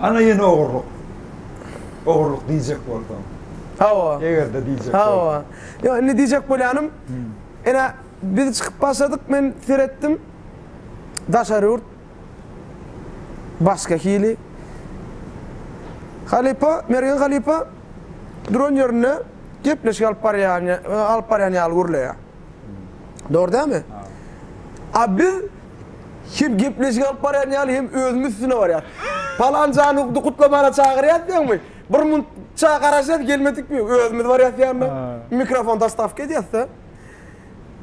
Ana ýene ogurlyk. Ogurlyk diýjek bolsaň. Hawa. Eger-de diýjek bolsaň. Hawa. Ýok, indi diýjek bolýanym, ene, biz çykyp başladyk, men seretdim, daşary ýurt başga hili. Halypa, Mergen halypa duran ýerinde gepleşik alyp barýan, alyp barýan ýaly gürleýär. Dogry dälmi? A biz hem gepleşik alyp barýan ýaly hem özümiz üstüne barýas. Palanjany hukdy gutlamana çagyrýas diýäňmi? Bir munça garaşýas gelmedikmi? Özümiz barýas ýanyna. Mikrofon dostawka edýäs-de.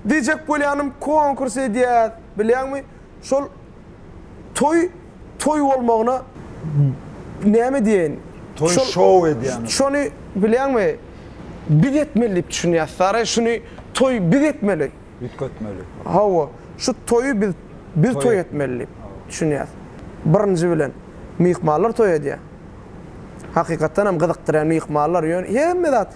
Diýjek bolýanym konkurs edýäs. Bilýäňmi? Şol Toý toý bolmagyna näme diýeýin? Toý şou edýäňiz. Şony bilýäňmi? Biz etmeli diýip düşünýäs. Saryý şuny toý biz etmeli. Üýtgetmeli. Hawa, şu toýy biz biz toý etmeli diýip düşünýäs. Birinji bilen, myhmanlar toý edýär. Hakykatdan hem gyzykdyrýar myhmanlar. Ýöne hemme zat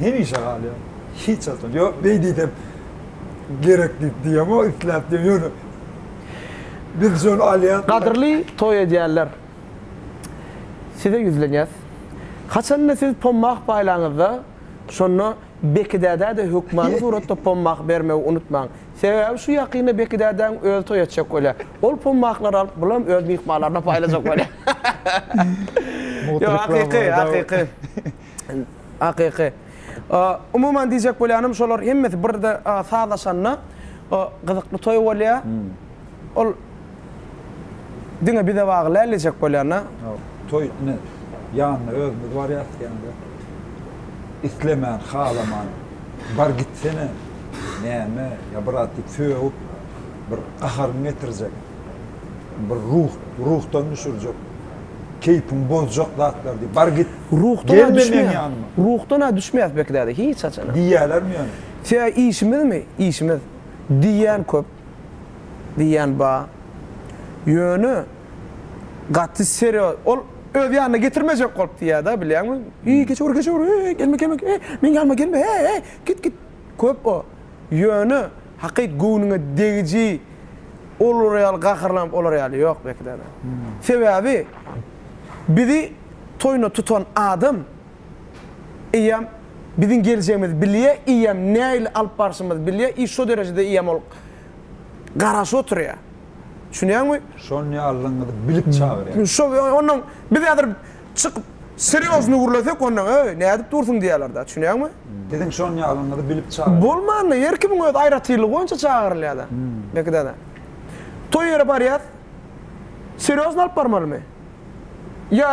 hemişe galýar. Hiç wagtdan. Ýok, beý diýsem gerek diýip diýemok, isläp diýemok. Ýöne biz şony alýas. Gadyrly toý edýänler, size ýüzlenýäs. Haçanda siz pommak paýlaňyzda, şonda Beki dädä-de hökmany suratda pommak bermegi unutmaň. Sebäbi şu ýakynda Beki dädäň özi toý etjek bolýar. Ol pommaklary alyp bulam öz myhmanlaryna paýlajak bolýar. Ýok, hakyky, hakyky. Hakyky. Umuman diýjek bolýanym şolar hemmesi birde sazlaşanda gyzykly toý bolýar. Ol diňe bize bagly däl diýjek bolýan-da. Toý ine ýanyna özümiz barýas diýende isleman, halaman bar gitsene näme ýa brat diýip sögüp bir gaharyňy getirjek. bir ruh, ruhdan düşürjek, keýpiňi bozjak zatlar diýip, bar git, gelme meň ýanyma. Ruhdan-a düşmeýäs belki däde, hiç haçan-a. Diýýälermi ýöne? Tä işimizmi, işimiz? Diýýän köp, diýýän bar. Ýöne gaty serýoz, ol öz ýanyna getirmejek bolup diýýär-dä, bilýäňmi? Eý, geçiwer, geçiwer, eý, gelme, gelme, eý, meň ýanyma gelme, eý, eý, git, git. Köp o. Ýöne. Hakyt göwnüňe degiji olar ýaly gaharlanyp olar ýaly ýok belki däne. Sebäbi bizi toýuna tutan adam eýýäm biziň geljegimizi bilýä eýýäm nähili alyp barşymyzy bilýä i şo derejede eýýäm ol garaşyp oturýa. Düşünýäňmi? Şony allyňyzy bilip çagyrýa. Şo ondan biz häzir Çykyp, serýozny gürlesek, onda, Eý, nädip dursuň diýerler-dä, düşünýäňmi? Biziň şon ýalyňyzy bilip çagyr. Bolmanda, her kimiň öz aýratynlygy boýunça çagyrylýar-da. Belki-de-de. Toý ýere barýas, serýozny alyp barmalymy? Ýa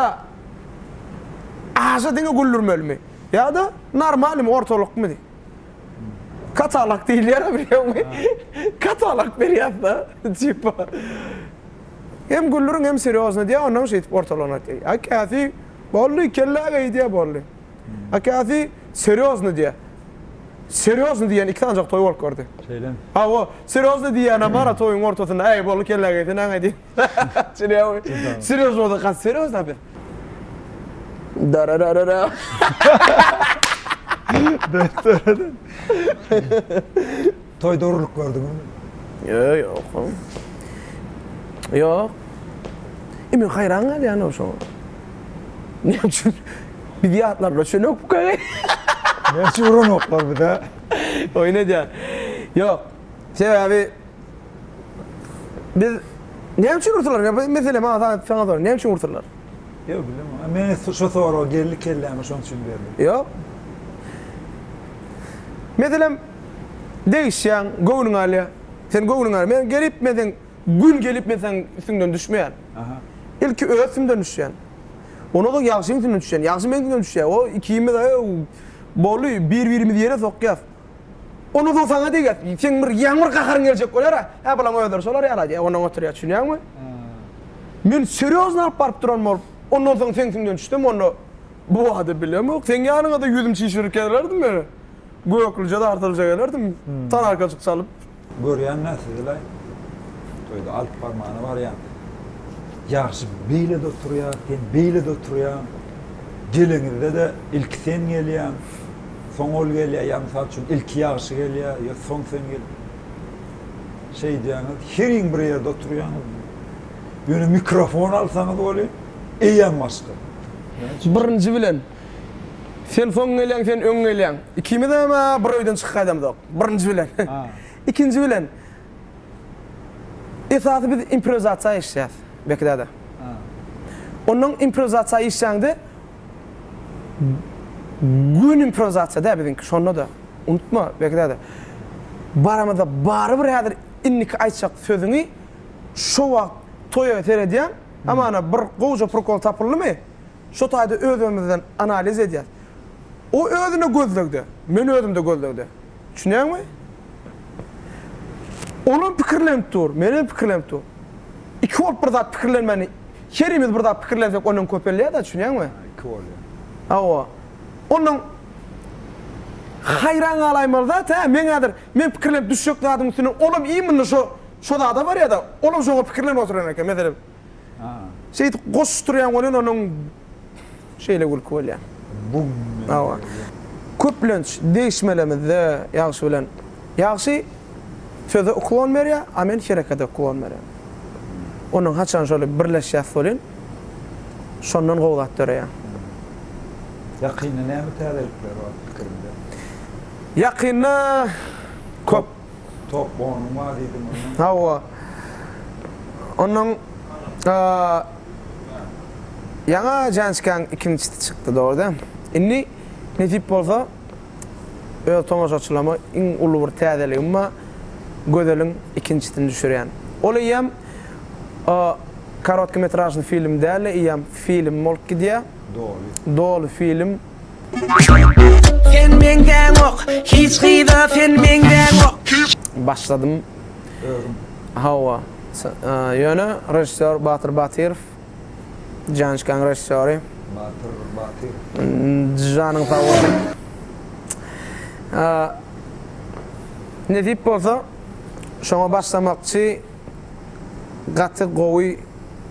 aşa diňe güldürmelimi? Ýa-da normalnymy, ortalykmy diý. Katalog diýilýär-ä, bilýäňmi? Katalog berýäs-de, tipa. Hem güldüriň hem serýozny diýýär, onnoň şeýdip ortalaryny aýtýar. A käsi boldy, kellä geý diýýär, boldy. A käsi serýozny diýýär. Serýozny diýýän iki sanjak toý bolup gördi. Şeýlemi? Hawa, serýozny diýýänä bar-a toýuň ortasynda, äý, boldy, kellä geý, sen aňa diýip. Çynaýamy? Serýoz bolsa has serýoz da bir. Darararara. Daradan. Toýda urlup gördüňizmi? Ýö, ýok. Ýok. E men haýran galýan-ow şoňa. Näme üçin biz ýatlarlar çönükka? Näme üçin uranoklar bize? Oýun edýän. Ýok. Sebäbi biz Näme üçin ursalar? Ýa bu mesele maňa zat saňa sorag. Näme üçin ursalar? Ýo bilemok. A men şu soragy geldi kelläme şoň üçin berdim. Ýok. Meselem Degişýäň, göwnüň alýa. Sen göwnüň al. Men gelip men seň gün gelip men seň üstüňden düşmeýän. Ilki öz üstümden düşýän. Ondan soň ýagşyň üstünden düşýän. Ýagşy meň üstümden düşýä. O ikimiz ööw boldy bir-birimizi ýere sokýas. Ondan soň saňa degýäs. Seň bir ýaňy bir gaharyň geljek bolýar-a. Hä bulaň özleri şolar ýaly diýip ondan oturýas. Düşünýäňmi? Men serýozny alyp baryp duran bolup ondan soň seň üstüňden düşsem onda bu wada bilemok. Seň ýanyňa-da ýüzüm çişirik gelerdim men. Göklüje dartylja gelerdim, tanakaçyk çalyp. Görýän-dä sizi-laý, toýda alyp barmana barýan. Ýagşy beýle-de oturýar, sen beýle-de oturýaň. Geleňizde-de ilki sen gelýäň, soň ol gelýär, ýa mysal üçin, ilki Ýagşy gelýär, ýa soň sen gelip şeýdýäňiz. Heriň bir ýerde oturýaňyz. Ýöne mikrofon alsaňyz welin, eýýäm başga. Näme üçin? Birinji bilen, Sen soň gelýäň, sen öň gelýäň. Ikimizem-ä bir öýden çykyp gaýdamyzok. Birinji bilen. Ikinji bilen, esasy biz improwizasiýa işleýäs Beki däde. Onnoň improwizasiýa işlände göni improwizasiýa däl biziňki, şonda-da. Unutma, Beki däde. Baramyzda barybir häzir indiki aýtjak sözüňi şo wagt toýa seredýäň, hamana bir gowja prikol tapyldymy, Şo taýda özümizden analiz edýäs. O özüne gözlegde, men özümde gözlegde. Düşünýäňmi? Olam pikirlenip dur, menem pikirlenip dur. Iki bolup bir zat pikirlenmäni, herimiz bir zat pikirlensek ondan köpelýär-de, düşünýäňmi? Hä, iki bolýar. Hawa. Ondan haýran galaýmaly zat-ä, men häzir, men pikirlenip düşjek zadyň üstünden olam iýminde şo, şo zada barýar-da, olam şoňa pikirlenip oturan eken, meselem. Şeýdip goşuşdyrýan welin onuň şeýle gülki bolýar. Hawa. Köplenç degişmelemizde ýagşy bilen ýagşy söze uklon berýär, a men herekete uklon berýän. Ondan haçan şol birleşýäs welin şondan gowy zat döreýär. Ýakynda näme täzelikler bar pikiriňde? Ýakynda köp. Top bonuň bar diýdim onda. Hawa. Ondan ýaňa Jançkaň ikinjisi çykdy dogry-da. Indi nesip bolsa öz tomaşaçylaryma iň uly bir täzeligim bar, Gözeliň ikinjisini düşürýän. Ol eýýäm korotkometražnyý film däl-de, eýýäm film bolup gidýär. Doly. Doly film. Sen meňzäňok hiç gyza sen meňzäňok. Başladym. Özüm. Hawa. Ýöne režissýor Batyr Batyrow. Jançkaň režissýory. Batyr Batyrow. Janyň sag bolsun. Nesip bolsa şoňa başlamakçy gaty gowy.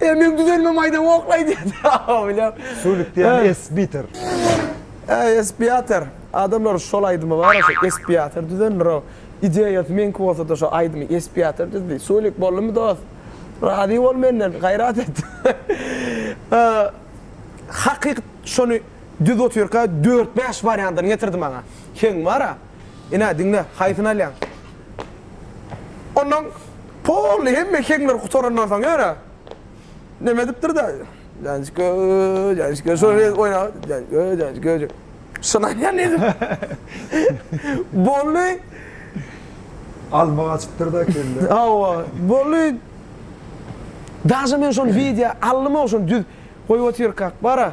Ermem düzelme maýda woklaý diýdi. Hawa bilem. Sulik diýen esbitir. Äý espiator. Adamlar şol aýdymy bar şo espiator düzendirow. Ideýasy meňki bolsada şo aýdymy espiator düzdi. Sulik boldumy dost. Razy bol menden gaýrat et. Hakyk şony düzüp otyrka dört bäş wariantyn getirdi maňa. Heň bara. Ine diňle haýsyny alýaň. Ondan poly hemme heňler gutarandan soň ýöne näme edipdir-de? Janjika, janjika, şol ýerde oýna. Janjika, janjika. Şynaýan diýdim. Bolly. Alma gaçypdyr-da kelle. Hawa, bolly. Daže men şol wideo aldym-ow, şony düz goýup otyrkak bar-a.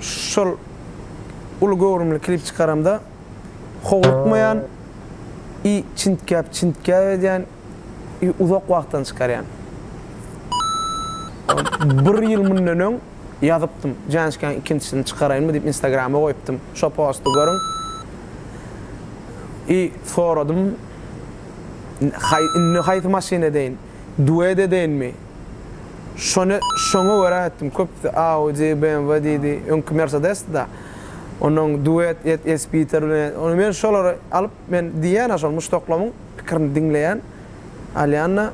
şol uly göwrümli klip çykaramda howlukmaýan i çintgäp çintgäp edýän i uzak wagtdan çykarýan. Bir ýyl mundan öň ýazypdym Janşkaň ikinjisini çykaraýynmy diýip instagrama goýupdym şo posty görüň i soradym haý indi haýsy maşyn edeýin duet edeýinmi. Şony şoňa görä etdim köpüsi Audi, BMW diýdi, öňki Mersedesdi-da. Ondan Duet, et, Espiter bilen et. Onda men şolary alyp men diýýän-ä şol muşdaklamyň pikirini diňleýän, alýan-da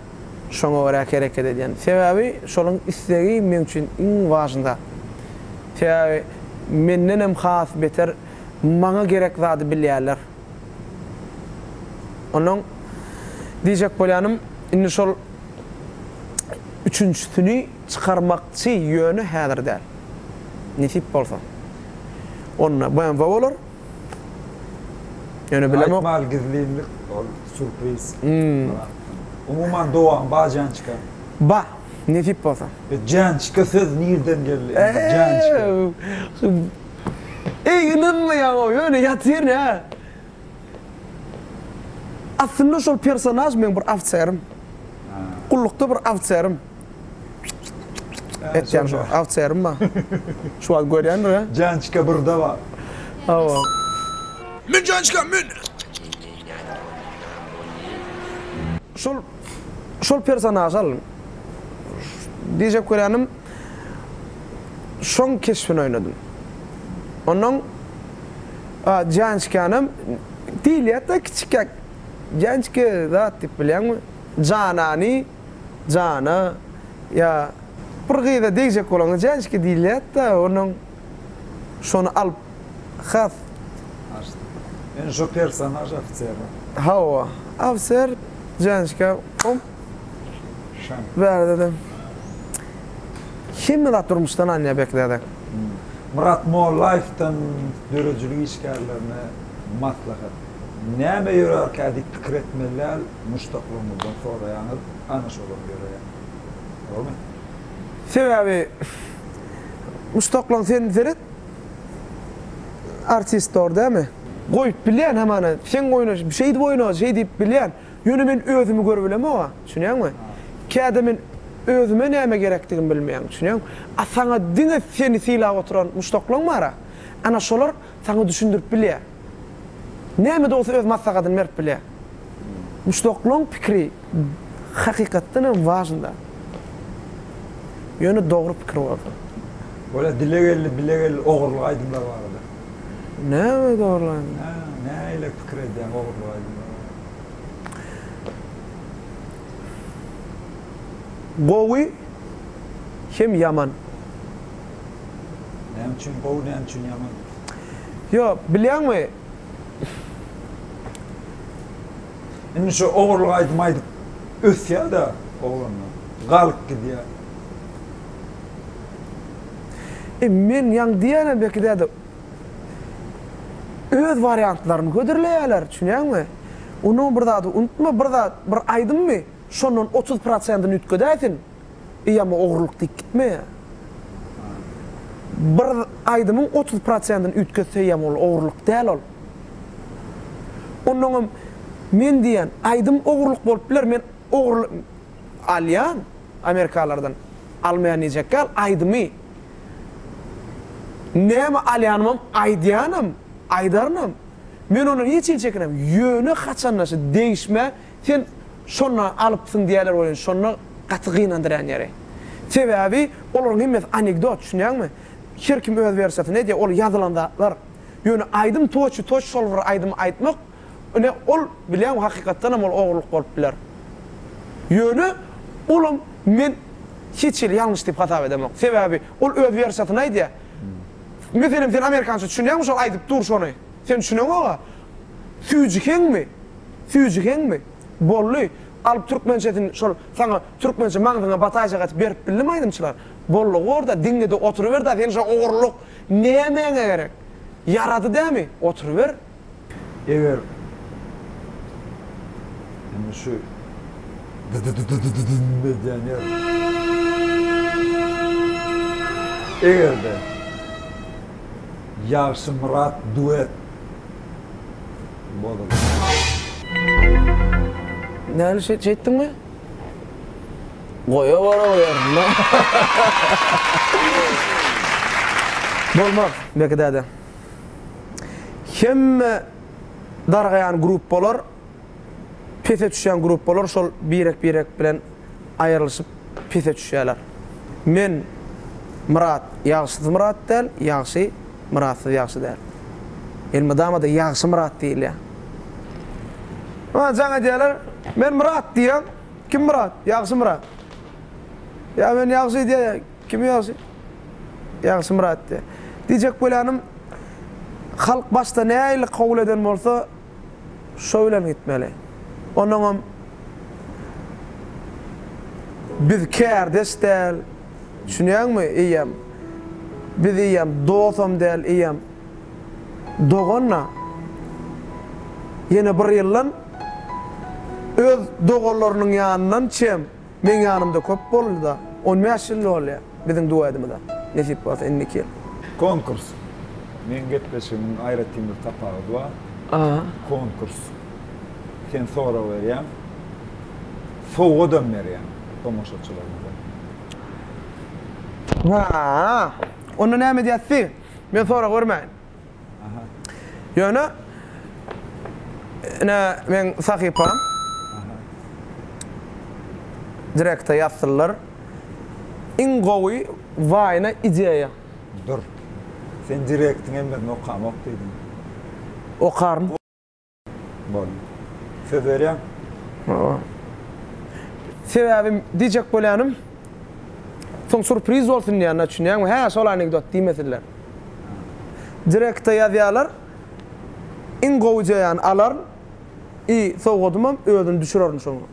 şoňa görä hereket edýän. Sebäbi şolaryň istegi meň üçin iň wažny zat. Sebäbi mendenem has beter maňa gerek zady bilýärler. Onnoň diýjek bolýanym, indi şol üçünjisini çykarmakçy, ýöne häzir däl. Nesip bolsa. Onda BMW bolar. Ýöne bilemok. Aýtmaly gizlinlik, ol surpriz. Umuman dowamy bar Jançka? Bar, nesip bolsa. Jançka söz nirden geldi? Jançka. Eý ynanma ýaňa öýle ýatyr nä. Aslynda şol personaž meň bir awçerim. Gullukda bir awçerim. Etýän şo awçerim bar. Şu wagt görýändir a. Jançka burda bar. Hawa. Mün jançka mün. Şol. şol personažy alyň. Diýjek bolýanym, şoň keşbini oýnadym. Onnoň Jançkanam diýilýär-de kiçikäk Jançka zat diýip bilýäňmi? Janany, Jana ýa bir gyza degjek bolaňda Jançka diýilýär-de, onnoň. Şony alyp has Açdy. Men şu personaj ofisermi? Hawa. Ofiser Jançka om. Şan. Bärdedem. Hemme zat durmuşdan alynýar Bekzada. Myrat Mollaýewden döredijilik işgärlerine maslahat. Näme ýörärkä diýip pikir etmeli däl, muşdaklaryňyzdan soraýaňyz, ana şolam ýöreýär. Dogrumy? Sebäbi Muşdaklaň sen seret artist bar dämi. Goýup bilýän hamana seň oýnaş şeýdip oýna şeý diýip bilýän ýöne men özümi görübilemoga düşünýäňmi käde men özüme näme gerekdigimi bilmeýän düşünýäňmi a saňa diňe seni sylap oturan muşdaklaň bara ana şolar Saňa düşündirip bilýä. Näme de bolsa öz maslahatyny berip bilýä. Muşdaklaň pikiri hakykatdan hem wažnda. Ýöne dogry pikir bolsa. Bolýa dile geldi bile geldi ogurlyk aýdymlar barada. Näme de ogurlyk aýdymlar? Hä, nähili pikir edýäň ogurlyk aýdymlar barada? Gowy hem ýaman. Näme üçin gowy, näme üçin ýaman? Ýok, bilýäňmi? Indi şu ogurlyk aýdym aýdyp ösýär-de oglanlar. Galyp gidýär. E, men ýaňy diýenem belki däde, öz wariantlaryny hödürleýärler, düşünýäňmi? Onuň bir zady unutma, bir zat, bir aýdymmy, şondan otuz prosentini üýtgedäýsin. Eý amma ogrulyk diýip gitmeýär. Bir aýdymyň otuz prosentini üýtgetseýem ol ogrulyk däl ol. Onnoňam men diýýän aýdym ogrulyk bolup biler men ogru alýan amerikalylardan almaýan diýjek däl aýdymy näme alýanymam aýdýanam aýdarynam men ondan hiç hili çekinemok ýöne haçanda şu degişmä Sen şonda alypsyň diýerler welin şonda gaty gynandyrýan ýeri. Sebäbi olaryň hemmesi anekdot düşünýäňmi? Her kim öz wersiýasyny edýär ol ýazylan zatlar. Ýöne aýdym toçy toç şol bir aýdymy aýtmak ine ol bilýäňmi hakykatdanam ol ogurlyk bolup biler. Ýöne olam men hiç hili ýalňyş diýip hasap edemok. Sebäbi ol öz wersiýasyny aýdýar. Meselem sen amerikança düşünýäňmi şol aýdyp dur şony? Sen düşüneňoga. Süýjüheňmi? Süýjüheňmi? Bolly, galyp türkmençesini şol saňa türkmençe maňzyňa bataýjak etip berip bildimi aýdymçylar? Bolly gorda, diňle-de oturyber-dä sen şo ogurlyk nämäňe gerek? Ýarady dämi? Oturyber. Eger indi şu dy-dy-dy-dy-dy-dyn edýän ýer Eger-de Ýagşymyrat duet Näme şeýt şeýtdiňmi? Goýa bara goýaryn da. Bolmaz, Beki däde. Hemme dargaýan gruppalar, pese düşýän gruppalar şol birek-birek bilen aýrylyşyp pese düşýärler. Men, Myrat, ýagşysy Myrat däl, ýagşy. Myratsyz ýagşy däl. Elmydama-da Ýagşy Myrat diýilýär. Maňa jaň edýärler, Men Myrat diýýän, Kim Myrat? Ýagşy Myrat. Ýa men Ýagşy diýýän ýa Kim Ýagşy? Ýagşy Myrat diýýän. Diýjek bolýanym, halk başda nähili kabul eden bolsa, Şo bilen gitmeli. Onuňam biz kärdeş däl, düşünýäňmi, eýýäm. Biz eýýäm dosam däl, eýýäm dogan-a. Ýene bir ýyldan öz doganlarynyň ýanyndan çem. Meň ýanymda köp boldy-da. On bäş ýyl bolýar biziň duetimize, nesip bolsa indi iki ýyl. Konkurs. Meň gepleşigimiň aýratyn bir tapawudy bar. Konkurs. Sen sorag berýäň, sowgadam berýäň tomaşaçylarymyza. Haa. Onda näme edýäs diý? Men sorag bermäýin. Ýöne ine meň sahypam direkte ýazsynlar iň gowy waýna ideýa. Dur. Sen direktiňem bir nokamok diýdiň. Okaryn. Bol. Söz berýän. Hawa. Sebäbi diýjek bolýanym, soň surpriz bolsun diýýänler, düşünýäňmi? Hä, şol anekdot diýmesinler. Direkte ýazýarlar. Iň gowy jaýany alaryn i sowgadymam özüni düşürerin şoňa.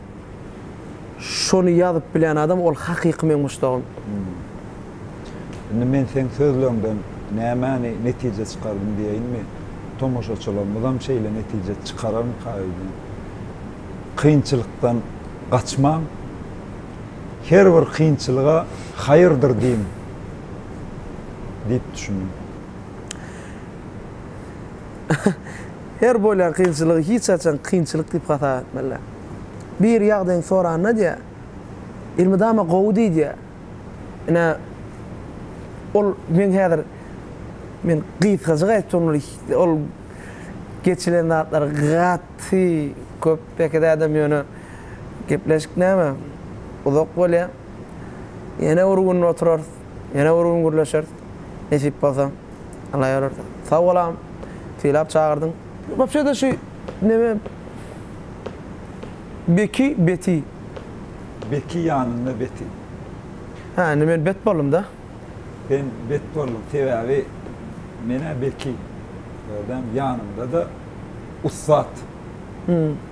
Şony ýazyp bilen adam ol hakyky meň muşdagym. Indi men seň sözleriňden nämäni netije çykardym diýeýinmi? Tomaşaçylarymyzam şeýle netije çykararmyka öýdýän. Kynçylykdan gaçmaň. Her bir kynçylyga haýyrdyr diýiň diýip düşündim. Her bolýan kynçylygy hiç haçan kynçylyk diýip hasap etmeli. Biri ýagdaýyňy soranda diýýär, Elmydama gowy diý diýýär. Ine, ol meň häzir men gysgajyk aýtjak boly, ol geçilen zatlar gaty köp belki dädem ýöne gepleşik näme uzak bolýar. Ýene bir gün oturarys. Ýene bir gün gürleşeris. Nesip bolsa. Alla ýararsa. Sag bol agam. Sylap çagyrdyň. Wapşe-de şu neme Beki beti. Beki ýanynda beti. Hä indi men bet boldum-da. Sen bet bolduň sebäbi men-ä beki. Gördäňmi ýanymda-da ussat.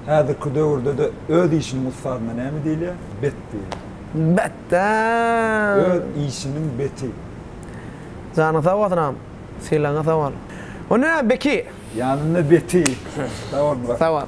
Häzirki döwürde-de öz işiniň ussadyna näme diýilýär? Bet diýilýär. Bet-dä! Öz işiniň beti. Janyň sag bolsun agam. Sylagyňa sag bol. O nä, Beki? Ýanynda beti. Sag bol, Murat. Sag bol.